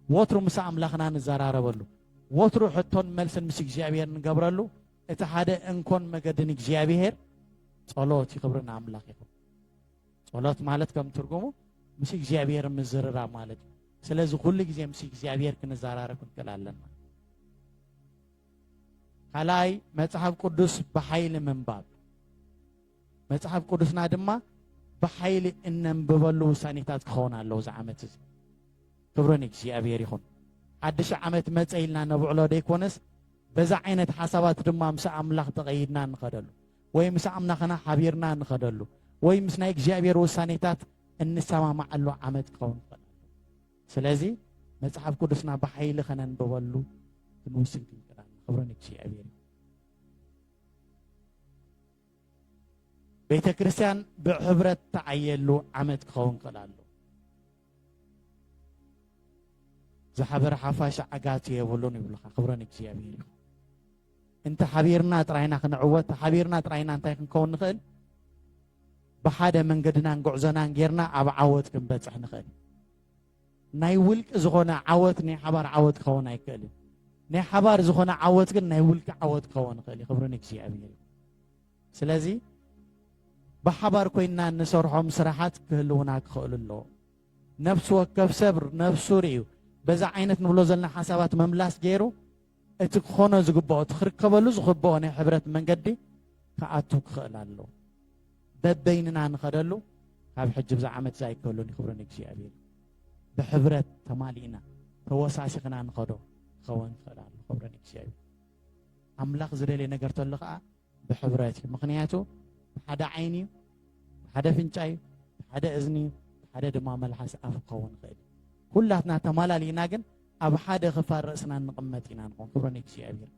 ወትሩ ምስ ኣምላኽና ንዘራረበሉ ወትሩ ሕቶን መልስን ምስ እግዚኣብሔር ንገብረሉ እቲ ሓደ እንኮን መገድን እግዚኣብሔር ጸሎት ይኽብርን ኣምላኽ ይኹን ጸሎት ማለት ከም ትርጉሙ ምስ እግዚኣብሔር ምዝርራብ ማለት እዩ ስለዚ ኩሉ ግዜ ምስ እግዚኣብሔር ክንዘራረብ ክንክእል ኣለና ካልኣይ መጽሓፍ ቅዱስ ብሓይሊ ምንባብ መጽሓፍ ቅዱስና ድማ ብሓይሊ እነንብበሉ ውሳኔታት ክኸውን ኣለዎ እዚ ዓመት እዚ ክብሪ ንእግዚኣብሔር ይኹን ሓድሽ ዓመት መፀ ኢልና ነብዕሎ ደይኮነስ በዛ ዓይነት ሓሳባት ድማ ምስ ኣምላኽ ተቐይድና ንኸደሉ ወይ ምስ ኣምላኽና ሓቢርና እንኸደሉ ወይ ምስ ናይ እግዚኣብሔር ውሳኔታት እንሰማማዓሉ ዓመት ክኸውን ይኽእል ስለዚ መጽሓፍ ቅዱስና ብሓይሊ ከነንብበሉ ክንውስን ክንክዳን ክብሪ ንእግዚኣብሔር ቤተ ክርስቲያን ብሕብረት ተዓየሉ ዓመት ክኸውን ክእል ኣሎ ዝሓበረ ሓፋሽ ዓጋቲ የብሉን ይብሉካ ክብረ ንእግዚኣብሔር ይኹን እንተ ሓቢርና ጥራይና ክንዕወት ተሓቢርና ጥራይና እንታይ ክንከውን ንኽእል ብሓደ መንገድናን ጉዕዞናን ጌርና ኣብ ዓወት ክንበፅሕ ንኽእል ናይ ውልቂ ዝኾነ ዓወት ናይ ሓባር ዓወት ክኸውን ኣይክእልን ናይ ሓባር ዝኾነ ዓወት ግን ናይ ውልቂ ዓወት ክኸውን ይኽእል እዩ ክብሪ ንእግዚኣብሔር እዩ ስለዚ ብሓባር ኮይንና እንሰርሖም ስራሓት ክህልውና ክኽእሉ ኣለዎ። ነፍሲ ወከፍ ሰብ ነፍሱ ርእዩ በዛ ዓይነት ንብሎ ዘለና ሓሳባት መምላስ ገይሩ እቲ ክኾኖ ዝግብኦ እቲ ክርከበሉ ዝኽብኦ ናይ ሕብረት መንገዲ ክኣቱ ክኽእል ኣለዎ። በበይንና ንኸደሉ ካብ ሕጂ ብዛ ዓመት እዛ ኣይከሉን ይኽብሩ ንእግዚኣብሔር ብሕብረት ተማሊእና ተወሳሲኽና ንኸዶ ክኸውን ይኽእል ኣሎ ክብሩ ንእግዚኣብሔር ኣምላኽ ዝደልየ ነገር ተሎ ከዓ ብሕብረት እዩ ምክንያቱ ብሓደ ዓይኒ እዩ ብሓደ ኣፍንጫ እዩ ብሓደ እዝኒ እዩ ብሓደ ድማ መልሓስ ኣፍ ክኸውን ይኽእል ኩላትና ተማላሊእና ግን ኣብ ሓደ ክፋል ርእስና እንቕመጥ ኢና ንኾን ክብሮ ንእግዚኣብሔር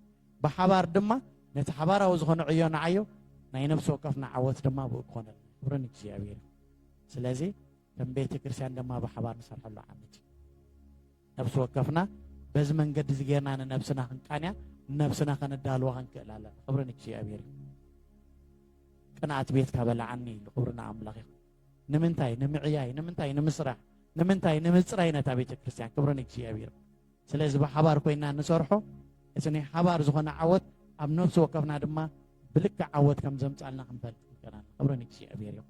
ብሓባር ድማ ነቲ ሓባራዊ ዝኾነ ዕዮ ንዓዮ ናይ ነፍሲ ወከፍና ዓወት ድማ ብኡ ክኾነ ክብሮ ንእግዚኣብሔር እዩ ስለዚ ከም ቤተ ክርስቲያን ድማ ብሓባር ንሰርሐሉ ዓመት እዩ ነፍሲ ወከፍና በዚ መንገዲ እዚ ጌርና ንነብስና ክንቃንያ ነብስና ከነዳልዋ ክንክእል ኣለና ክብሪ ንእግዚኣብሔር እዩ ቅንኣት ቤትካ በላዓኒ ኢሉ ክብሪ ንኣምላኽ ይኹን ንምንታይ ንምዕያይ ንምንታይ ንምስራሕ ንምንታይ ንምፅራይ ነታ ቤተ ክርስቲያን ክብሪ ንእግዚኣብሔር ስለዚ ብሓባር ኮይና ንሰርሖ እቲ ናይ ሓባር ዝኾነ ዓወት ኣብ ነብሲ ወከፍና ድማ ብልክዕ ዓወት ከም ዘምፃልና ክንፈልጥ ንከና ክብሪ ንእግዚኣብሔር እዩ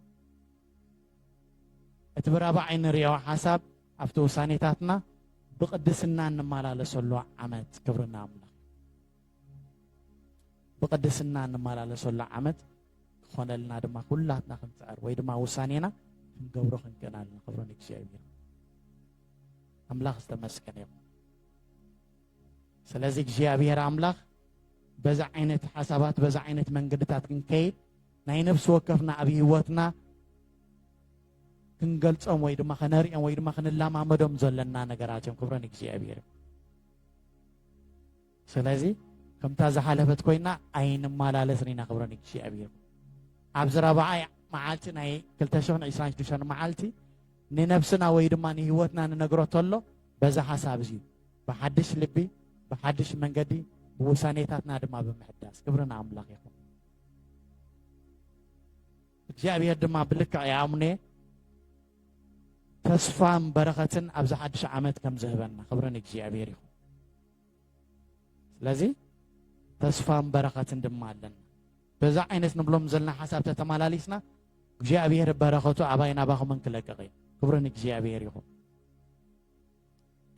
እቲ ብራብዓይ ንሪኦ ሓሳብ ኣብቲ ውሳኔታትና ብቅድስና እንመላለሰሉ ዓመት ክብርና ኣምላኽ ብቅድስና እንመላለሰሉ ዓመት ክኾነልና ድማ ኩላትና ክንፅዕር ወይ ድማ ውሳኔና ክንገብሮ ክንክእል ኣለና ክብሮ ንእግዚኣብሔር ኣምላኽ ዝተመስገነ ይኹን ስለዚ እግዚኣብሔር ኣምላኽ በዛ ዓይነት ሓሳባት በዛ ዓይነት መንገድታት ክንከይድ ናይ ነፍሲ ወከፍና ኣብ ህይወትና ክንገልጾም ወይ ድማ ከነርእዮም ወይ ድማ ክንለማመዶም ዘለና ነገራት እዮም ክብረን እግዚኣብሔር ስለዚ ከምታ ዝሓለፈት ኮይና ኣይንመላለስን ኢና ክብረን እግዚኣብሔር ኣብዚ ረብዓይ መዓልቲ ናይ 226 መዓልቲ ንነብስና ወይ ድማ ንህይወትና ንነግሮ ተሎ በዛ ሓሳብ እዚ ብሓድሽ ልቢ ብሓድሽ መንገዲ ብውሳኔታትና ድማ ብምሕዳስ ክብርን ኣምላኽ ይኹን እግዚኣብሔር ድማ ብልክዕ ያምኔ ተስፋን በረኸትን ኣብዚ ሓድሽ ዓመት ከም ዝህበና ክብሪ ንእግዚኣብሔር ይኹን። ስለዚ ተስፋን በረኸትን ድማ ኣለና። በዛ ዓይነት ንብሎም ዘለና ሓሳብ ተተመላሊስና እግዚኣብሔር በረኸቱ ኣባይ ናባኹምን ክለቅቕ እዩ። ክብሪ ንእግዚኣብሔር ይኹን።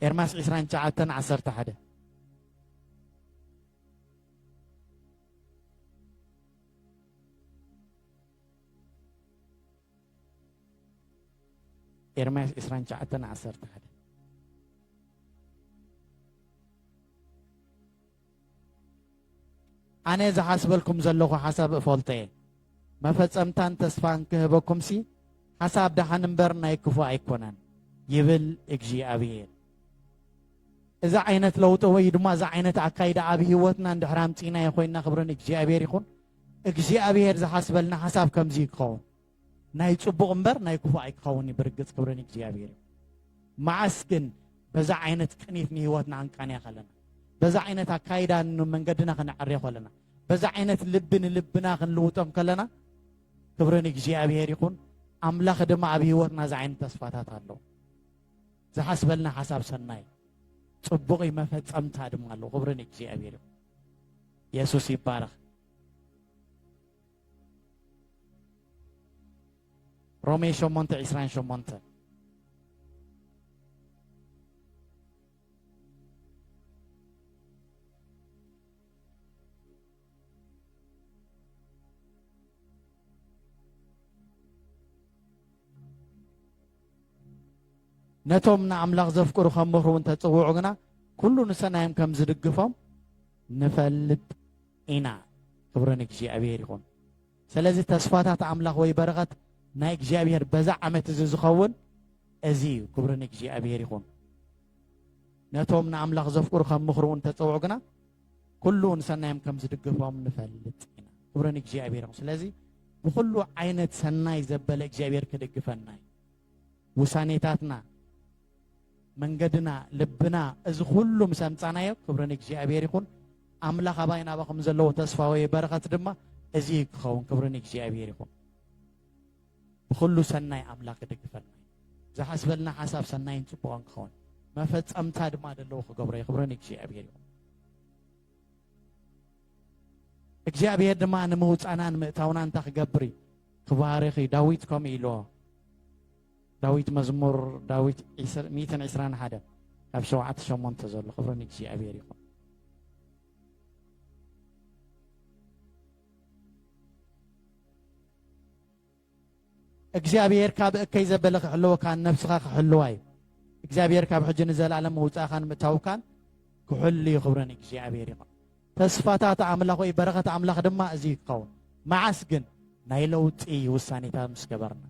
ኤርማስ 29 11 ኤርምያስ ዕስራን ትሽዓተን ዓሰርተ ሓደ ኣነ ዝሓስበልኩም ዘለኹ ሓሳብ እፈልጦ እየ መፈጸምታን ተስፋን ክህበኩምሲ ሓሳብ ደሓን እምበር ናይ ክፉእ ኣይኮነን ይብል እግዚኣብሔር እዚ ዓይነት ለውጢ ወይ ድማ እዚ ዓይነት ኣካይዳ ኣብ ህይወትና እንድሕር ኣምፂእናዮ ኮይንና ክብሪ ንእግዚኣብሔር ይኹን እግዚኣብሔር ዝሓስበልና ሓሳብ ከምዚ እዩ ክኸውን ናይ ፅቡቕ እምበር ናይ ክፉእ ኣይክኸውን እዩ ብርግፅ ክብሪ ንእግዚኣብሔር እዩ መዓስ ግን በዛ ዓይነት ቅኒት ንህይወትና ክንቃንያ ከለና በዛ ዓይነት ኣካይዳ መንገድና ክንዕርዮ ከለና በዛ ዓይነት ልቢ ንልብና ክንልውጦም ከለና ክብሪ ንእግዚኣብሔር ይኹን ኣምላኽ ድማ ኣብ ህይወትና እዚ ዓይነት ተስፋታት ኣሎ ዝሓስበልና ሓሳብ ሰናይ ጽቡቕ እዩ፣ መፈጸምታ ድማ ኣሎ። ክብሪ ንእግዚኣብሔር ይኹን። የሱስ ይባረኽ። ሮሜ 8 28 Thank you. ነቶም ንኣምላኽ ዘፍቅሩ ከም ምኽሩ እንተ ጽውዑ ግና ኩሉ ንሰናዮም ከም ዝድግፎም ንፈልጥ ኢና። ክብሪ ንእግዚኣብሔር ይኹን። ስለዚ ተስፋታት ኣምላኽ ወይ በረኸት ናይ እግዚኣብሔር በዛ ዓመት እዚ ዝኸውን እዚ እዩ። ክብሪ ንእግዚኣብሔር ይኹን። ነቶም ንኣምላኽ ዘፍቅሩ ከም ምኽሩ እንተጸውዑ ግና ኩሉ ንሰናዮም ከም ዝድግፎም ንፈልጥ ኢና ክብሪ ንእግዚኣብሔር ስለዚ ብኩሉ ዓይነት ሰናይ ዘበለ እግዚኣብሔር ክድግፈና እዩ ውሳኔታትና መንገድና ልብና እዚ ኩሉ ምስ ኣምፃናዮ ክብሪ ንእግዚኣብሔር ይኹን ኣምላኽ ኣባይ ናባኹም ዘለዎ ተስፋ ወይ በረኸት ድማ እዚ ክኸውን ክብሪ ንእግዚኣብሔር ይኹን ብኹሉ ሰናይ ኣምላኽ ይድግፈና እዩ። ዝሓስበልና ሓሳብ ሰናይን ጽቡቕን ክኸውን መፈጸምታ ድማ ደለዎ ክገብሮ እዩ። ክብሪ ንእግዚኣብሔር ይኹን። እግዚኣብሔር ድማ ንምውፃናን ምእታውና እንታይ ክገብር እዩ ክባርኽ እዩ። ዳዊት ከምኡ ኢልዎ ዳዊት መዝሙር ዳዊት 121 ካብ ሸውዓተ ሸሞንተ ዘሎ ክብሪ ንእግዚኣብሔር ይኹን። እግዚኣብሔር ካብ እከይ ዘበለ ክሕልወካን ነብስኻ ክሕልዋ እዩ እግዚኣብሔር ካብ ሕጂ ንዘለኣለም ምውፃእኻን ምእታውካን ክሕሉ እዩ ክብረ ንእግዚኣብሔር ይኹን ተስፋታት ኣምላኽ ወይ በረኸት ኣምላኽ ድማ እዚ ይኸውን መዓስ ግን ናይ ለውጢ ውሳኔታት ምስ ገበርና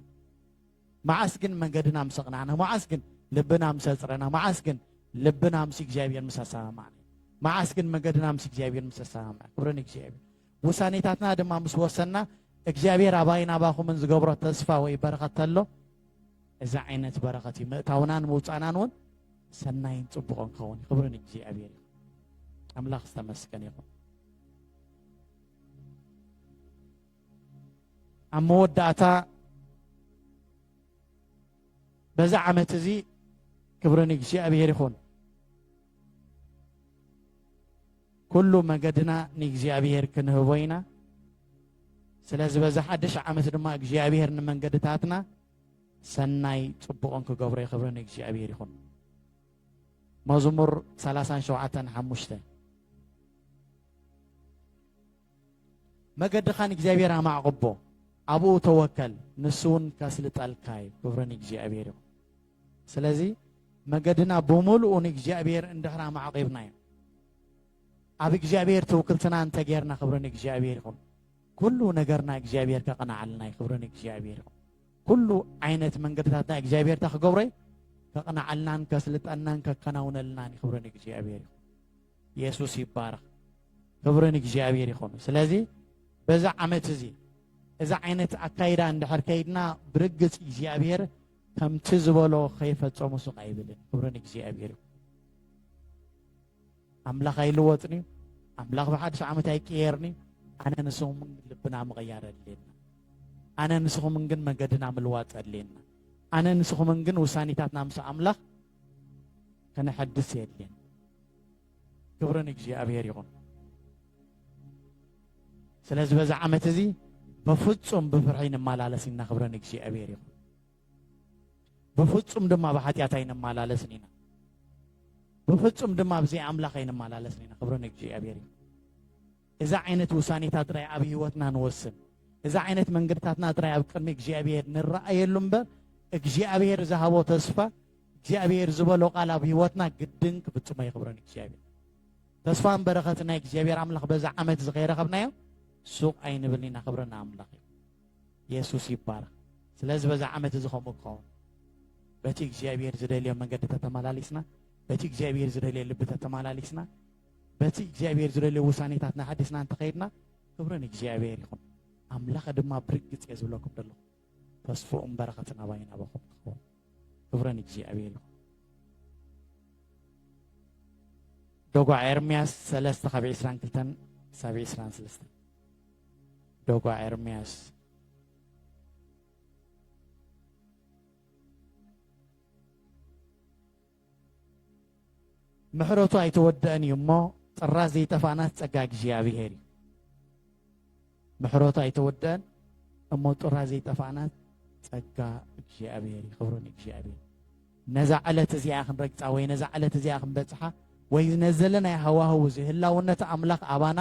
መዓስ ግን መንገድና ምስ ኣቕናዕና፣ መዓስ ግን ልብና ምስ ኣጽረና፣ መዓስ ግን ልብና ምስ እግዚኣብሔር ምስ ኣሰማማዕና፣ መዓስ ግን መንገድና ምስ እግዚኣብሔር ምስ ኣሰማምዕና፣ ክብሪ ንእግዚኣብሔር። ውሳኔታትና ድማ ምስ ወሰንና እግዚኣብሔር ኣባይን ኣባኹምን ዝገብሮ ተስፋ ወይ በረኸት ተሎ እዚ ዓይነት በረኸት እዩ ምእታውናን ምውፃእናን እውን ሰናይን ፅቡቕን ክኸውን ክብሪ ንእግዚኣብሔር እዩ ኣምላኽ ዝተመስገን ይኹን ኣብ መወዳእታ በዚ ዓመት እዚ ክብሪ ንእግዚኣብሔር ይኹን ኩሉ መገድና ንእግዚኣብሔር ክንህቦ ኢና ስለዚ በዚ ሓድሽ ዓመት ድማ እግዚኣብሔር ንመንገድታትና ሰናይ ፅቡቕን ክገብሮ ይኽብሪ ንእግዚኣብሔር ይኹን መዝሙር 37 ሓሙሽተ መገድኻ ንእግዚኣብሔር ኣማዕቕቦ ኣብኡ ተወከል ንሱውን ከስልጠልካ እዩ ክብሪ ንእግዚኣብሔር ይኹን ስለዚ መገድና ብምልኡ ንእግዚኣብሔር እንድሕር ኣማዕቂብናዮ ኣብ እግዚኣብሔር ትውክልትና እንተጌርና ክብሪ ንእግዚኣብሔር ይኹን ኩሉ ነገርና እግዚኣብሔር ከቕንዓልና እዩ ክብሪ ንእግዚኣብሔር ይኹን ኩሉ ዓይነት መንገድታትና እግዚኣብሔር እንታ ክገብሮ እዩ ከቕንዓልናን ከስልጠናን ከከናውነልናን እዩ ክብሪ ንእግዚኣብሔር ይኹን የሱስ ይባረኽ ክብሪ ንእግዚኣብሔር ይኹን ስለዚ በዚ ዓመት እዚ እዚ ዓይነት ኣካይዳ እንድሕር ከይድና ብርግፅ እግዚኣብሔር ከምቲ ዝበሎ ከይፈፀሙ ስቕ ኣይብልን ክብሪ ንእግዚኣብሔር ይኹን ኣምላኽ ኣይልወጥን እዩ ኣምላኽ ብሓድሽ ዓመት ኣይቀየርን እዩ ኣነ ንስኹም ልብና ምቕያር ኣድልየና ኣነ ንስኹምን ግን መገድና ምልዋጥ ኣድልየና ኣነ ንስኹምን ግን ውሳኔታትና ምስ ኣምላኽ ከነሐድስ የድልየና። ክብሪ ንእግዚኣብሔር ይኹን። ስለዚ በዚ ዓመት እዚ በፍጹም ብፍርሒ ንመላለስ ኢና። ክብሪ ንእግዚኣብሔር ይኹን። ብፍጹም ድማ ብሓጢኣት ኣይንመላለስን ኢና። ብፍጹም ድማ ብዘይ ኣምላኽ ኣይንመላለስን ኢና። ክብሪ ንእግዚኣብሔር ይኹን። እዚ ዓይነት ውሳኔታት ጥራይ ኣብ ሕይወትና ንወስን። እዚ ዓይነት መንገድታትና ጥራይ ኣብ ቅድሚ እግዚኣብሔር ንረኣየሉ እምበር እግዚኣብሔር ዝሃቦ ተስፋ እግዚኣብሔር ዝበሎ ቃል ኣብ ሕይወትና ግድን ክፍጽሞ የኽብረን እግዚኣብሔር። ተስፋን በረኸትን ናይ እግዚኣብሔር ኣምላኽ በዚ ዓመት እዚ ከይረኸብናዮ ሱቕ ኣይንብል ኢና ክብረና ኣምላኽ እዩ። የሱስ ይባረኽ። ስለዚ በዚ ዓመት እዚ ከምኡ ክኸውን በቲ እግዚኣብሔር ዝደልዮ መንገዲ ተተመላሊስና በቲ እግዚኣብሔር ዝደልዮ ልቢ ተተመላሊስና በቲ እግዚኣብሔር ዝደልዮ ውሳኔታት ናሓዲስና እንተኸይድና ክብሪ ንእግዚኣብሔር ይኹን ኣምላኸ ድማ ብርግጽ እየ ዝብለኩም ዘለኹ ተስፎኡን በረኸትን ኣባይን ኣባኹም ትኸውን ክብሪ ንእግዚኣብሔር ይኹን ዶጓ ኤርምያስ ሰለስተ ካብ ዕስራን ክልተን ክሳብ ዕስራን ሰለስተ ዶጓ ኤርምያስ ምሕረቱ ኣይተወደእን እዩ እሞ ጥራዝ ዘይጠፋእናስ ጸጋ እግዚኣብሔር እዩ ምሕረቱ ኣይተወደእን እሞ ጥራዝ ዘይጠፋእናስ ጸጋ እግዚኣብሔር እዩ ክብሩ ንእግዚኣብሔር ነዛ ዕለት እዚኣ ክንረግፃ ወይ ነዛ ዕለት እዚኣ ክንበፅሓ ወይ ነዚ ዘለናዮ ሃዋህው እዚ ህላውነት ኣምላኽ ኣባና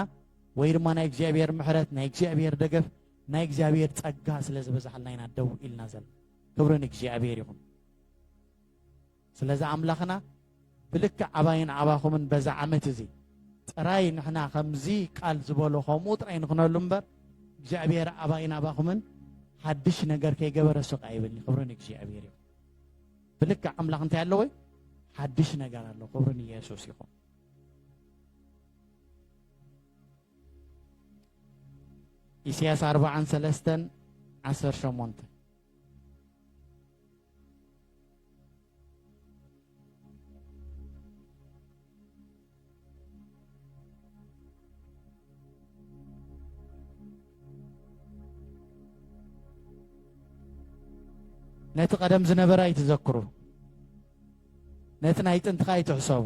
ወይ ድማ ናይ እግዚኣብሔር ምሕረት ናይ እግዚኣብሔር ደገፍ ናይ እግዚኣብሔር ጸጋ ስለ ዝበዝሓልና ኢና ደው ኢልና ዘለና ክብሪ ንእግዚኣብሔር ይኹን ስለዚ ኣምላኽና ብልክዕ ኣባይን ኣባኹምን በዛ ዓመት እዚ ጥራይ ንሕና ከምዚ ቃል ዝበሎ ከምኡ ጥራይ ንኽነሉ እምበር እግዚኣብሔር ኣባይን ኣባኹምን ሓድሽ ነገር ከይገበረ ስቃ ይብል ክብርን እግዚኣብሔር እዩ ብልክዕ ኣምላኽ እንታይ ኣለወ ሓድሽ ነገር ኣሎ ክብርን ኢየሱስ ይኹን ኢሳያስ ኣርባዓን ሰለስተን ዓሰርተ ሸሞንተ ነቲ ቀደም ዝነበረ ኣይትዘክሩ፣ ነቲ ናይ ጥንትኻ ኣይትሕሰቡ።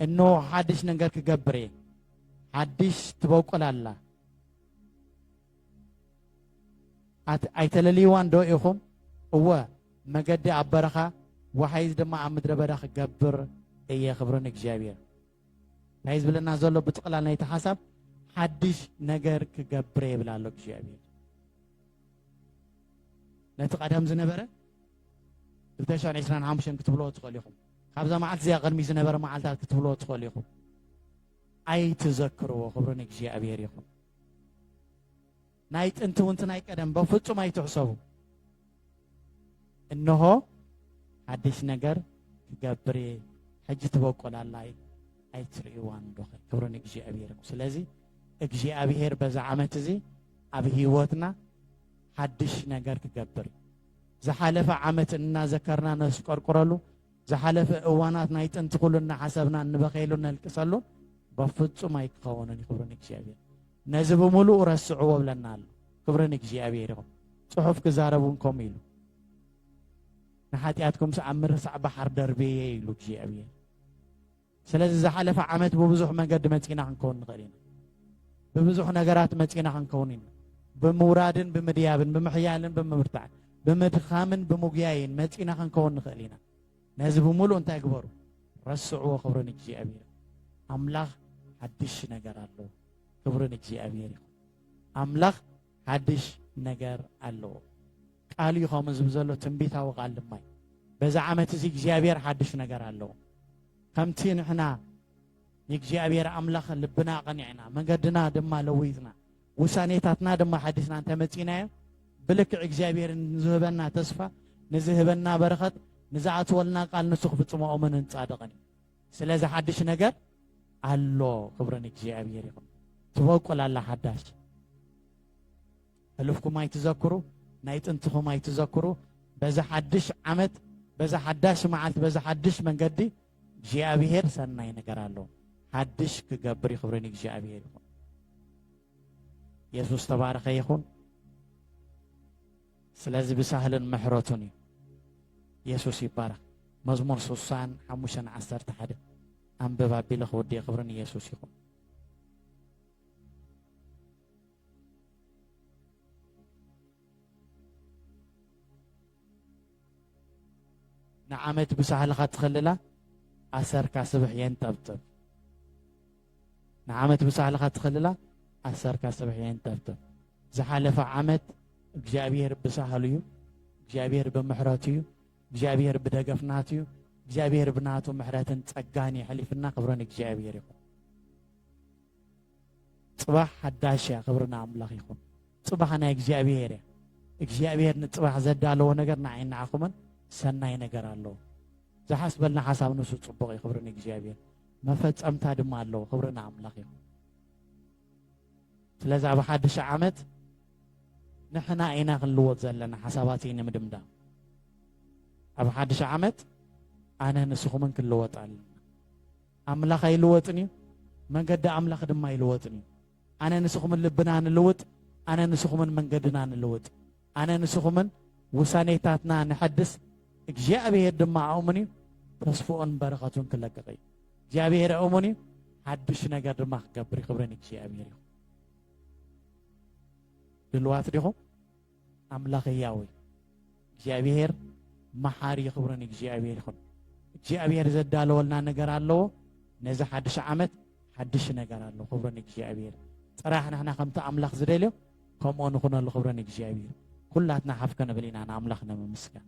እንሆ ሓድሽ ነገር ክገብር እየ፣ ሓድሽ ትበቁል ኣላ። ኣይተለልይዋን ዶ ኢኹም? እወ፣ መገዲ ኣብ በረኻ ወሓይዝ ድማ ኣብ ምድረ በዳ ክገብር እየ። ክብሪ ንእግዚኣብሔር። እንታይ ዝብለና ዘሎ ብጥቕላል ናይቲ ሓሳብ ሓድሽ ነገር ክገብር እየ ይብል ኣሎ እግዚኣብሔር። ነቲ ቀደም ዝነበረ 225 ክትብልዎ ትኽእሉ ኢኹም። ካብዛ መዓልቲ እዚኣ ቅድሚ ዝነበረ መዓልታት ክትብልዎ ትኽእሉ ኢኹም። ኣይትዘክርዎ። ክብሪ ንእግዚኣብሔር ይኹን። ናይ ጥንቲ ውንቲ ናይ ቀደም በፍጹም ኣይትሕሰቡ እንሆ ሓድሽ ነገር ክገብር እየ ሕጂ ትበቆላላይ ኣይትርእይዋን ዶ ክብሪ ንእግዚኣብሔር ስለዚ እግዚኣብሔር በዛ ዓመት እዚ ኣብ ህይወትና ሓድሽ ነገር ክገብር ዝሓለፈ ዓመት እናዘከርና ነስቆርቁረሉ ዝሓለፈ እዋናት ናይ ጥንቲ ኩሉ እናሓሰብና እንበኸየሉ እነልቅሰሉን በፍጹም ኣይክኸውንን እዩ ክብሪ ንእግዚኣብሔር ነዚ ብምሉኡ ረስዕዎ ብለና ኣሎ ክብሪ ንእግዚኣብሔር ይኹን ጽሑፍ ክዛረብ እውን ከምኡ ኢሉ ንሓጢኣትኩም ስኣብ ምርሳዕ ባሕር ደርብየ ኢሉ እግዚኣብሔር ስለዚ ዝሓለፈ ዓመት ብብዙሕ መንገዲ መጺና ክንከውን ንኽእል ኢና ብብዙሕ ነገራት መጺና ክንከውን ኢና ብምውራድን ብምድያብን ብምሕያልን ብምብርታዕን ብምድኻምን ብምጉያይን መጺና ክንከውን ንኽእል ኢና ነዚ ብምሉእ እንታይ ግበሩ ረስዕዎ ክብሪ ንእግዚኣብሔር ኣምላኽ ሓድሽ ነገር ኣለዎ ክብሪ ንእግዚኣብሔር ይኹን ኣምላኽ ሓድሽ ነገር ኣለዎ ቃል እዩ ከምኡ ዝብ ዘሎ ትንቢታዊ ቃል ድማ እዩ በዚ ዓመት እዚ እግዚኣብሔር ሓድሽ ነገር ኣለዎ ከምቲ ንሕና ንእግዚኣብሔር ኣምላኽ ልብና ኣቐኒዕና መንገድና ድማ ለዊጥና ውሳኔታትና ድማ ሓዲስና እንተመፂናዮ ብልክዕ እግዚኣብሔር ንዝህበና ተስፋ ንዝህበና በረኸት ንዝኣትወልና ቃል ንሱ ክፍፅሞ እሙን ንፃድቕን እዩ ስለዚ ሓድሽ ነገር ኣሎ ክብርን እግዚኣብሔር ይኹን ትበቁል ኣላ ሓዳሽ ሕሉፍኩም ኣይትዘክሩ፣ ናይ ጥንትኹም ኣይትዘክሩ፣ በዚ ሓድሽ ዓመት፣ በዚ ሓዳሽ መዓልቲ፣ በዚ ሓድሽ መንገዲ እግዚኣብሔር ሰናይ ነገር ኣሎ። ሓድሽ ክገብር ክብሪ ንእግዚኣብሔር ይኹን። ኢየሱስ ተባረኸ ይኹን። ስለዚ ብሳህልን ምሕረቱን እዩ። ኢየሱስ ይባረኽ። መዝሙር ስሳን ሓሙሽተን ዓሰርተ ሓደ ኣንብብ ኣቢለ ክውድእ ክብርን ኢየሱስ ይኹን። ንዓመት ብሳህልኻ ትኸልላ ኣሰርካ ስብሕ የንጠብጥብ ንዓመት ብሳህልኻ ትኸልላ ኣሰርካ ስብሕ የንጠብጥብ ዝሓለፈ ዓመት እግዚኣብሔር ብሳህሉ እዩ እግዚኣብሔር ብምሕረቱ እዩ እግዚኣብሔር ብደገፍናቱ እዩ እግዚኣብሔር ብናቱ ምሕረትን ጸጋን የሕሊፍና ክብረን እግዚኣብሔር ይኹን ጽባሕ ሓዳሽ እያ ክብሪ ንኣምላኽ ይኹን ጽባሕ ናይ እግዚኣብሄር እያ እግዚኣብሄር ንጽባሕ ዘዳለዎ ነገር ንዓይ ንዓኹምን ሰናይ ነገር ኣለዎ ዝሓስበልና ሓሳብ ንሱ ጽቡቕ እዩ ክብሪ ንእግዚኣብሄር መፈጸምታ ድማ ኣለዎ ክብሪ ንኣምላኽ ይኹን ስለዚ ኣብ ሓድሽ ዓመት ንሕና ኢና ክንልወጥ ዘለና ሓሳባት እዩ ንምድምዳም ኣብ ሓድሽ ዓመት ኣነ ንስኹምን ክንልወጥ ኣለና ኣምላኽ ኣይልወጥን እዩ፣ መንገዲ ኣምላኽ ድማ ኣይልወጥን እዩ። ኣነ ንስኹምን ልብና ንልውጥ፣ ኣነ ንስኹምን መንገድና ንልውጥ፣ ኣነ ንስኹምን ውሳኔታትና ነሐድስ፣ እግዚኣብሄር ድማ ኣእሙን እዩ፣ ተስፍኡን በረኸቱን ክለቅቕ እዩ። እግዚኣብሄር ኣእሙን እዩ፣ ሓድሽ ነገር ድማ ክገብር እዩ። ክብሪ ንእግዚኣብሄር ይኹን። ድልዋት ዲኹም? ኣምላኽ ህያው እዩ እግዚኣብሄር መሓሪ እዩ ክብሪ ንእግዚኣብሄር ይኹን እግዚኣብሄር ዘዳለወልና ነገር ኣለዎ ነዚ ሓድሽ ዓመት ሓድሽ ነገር ኣሎ ክብሪ ንእግዚኣብሄር ጥራሕ ንሕና ከምቲ ኣምላኽ ዝደልዮ ከምኡ ንኹነሉ ክብሪ ንእግዚኣብሄር ኩላትና ሓፍ ክንብል ኢና ንኣምላኽ ንምምስጋን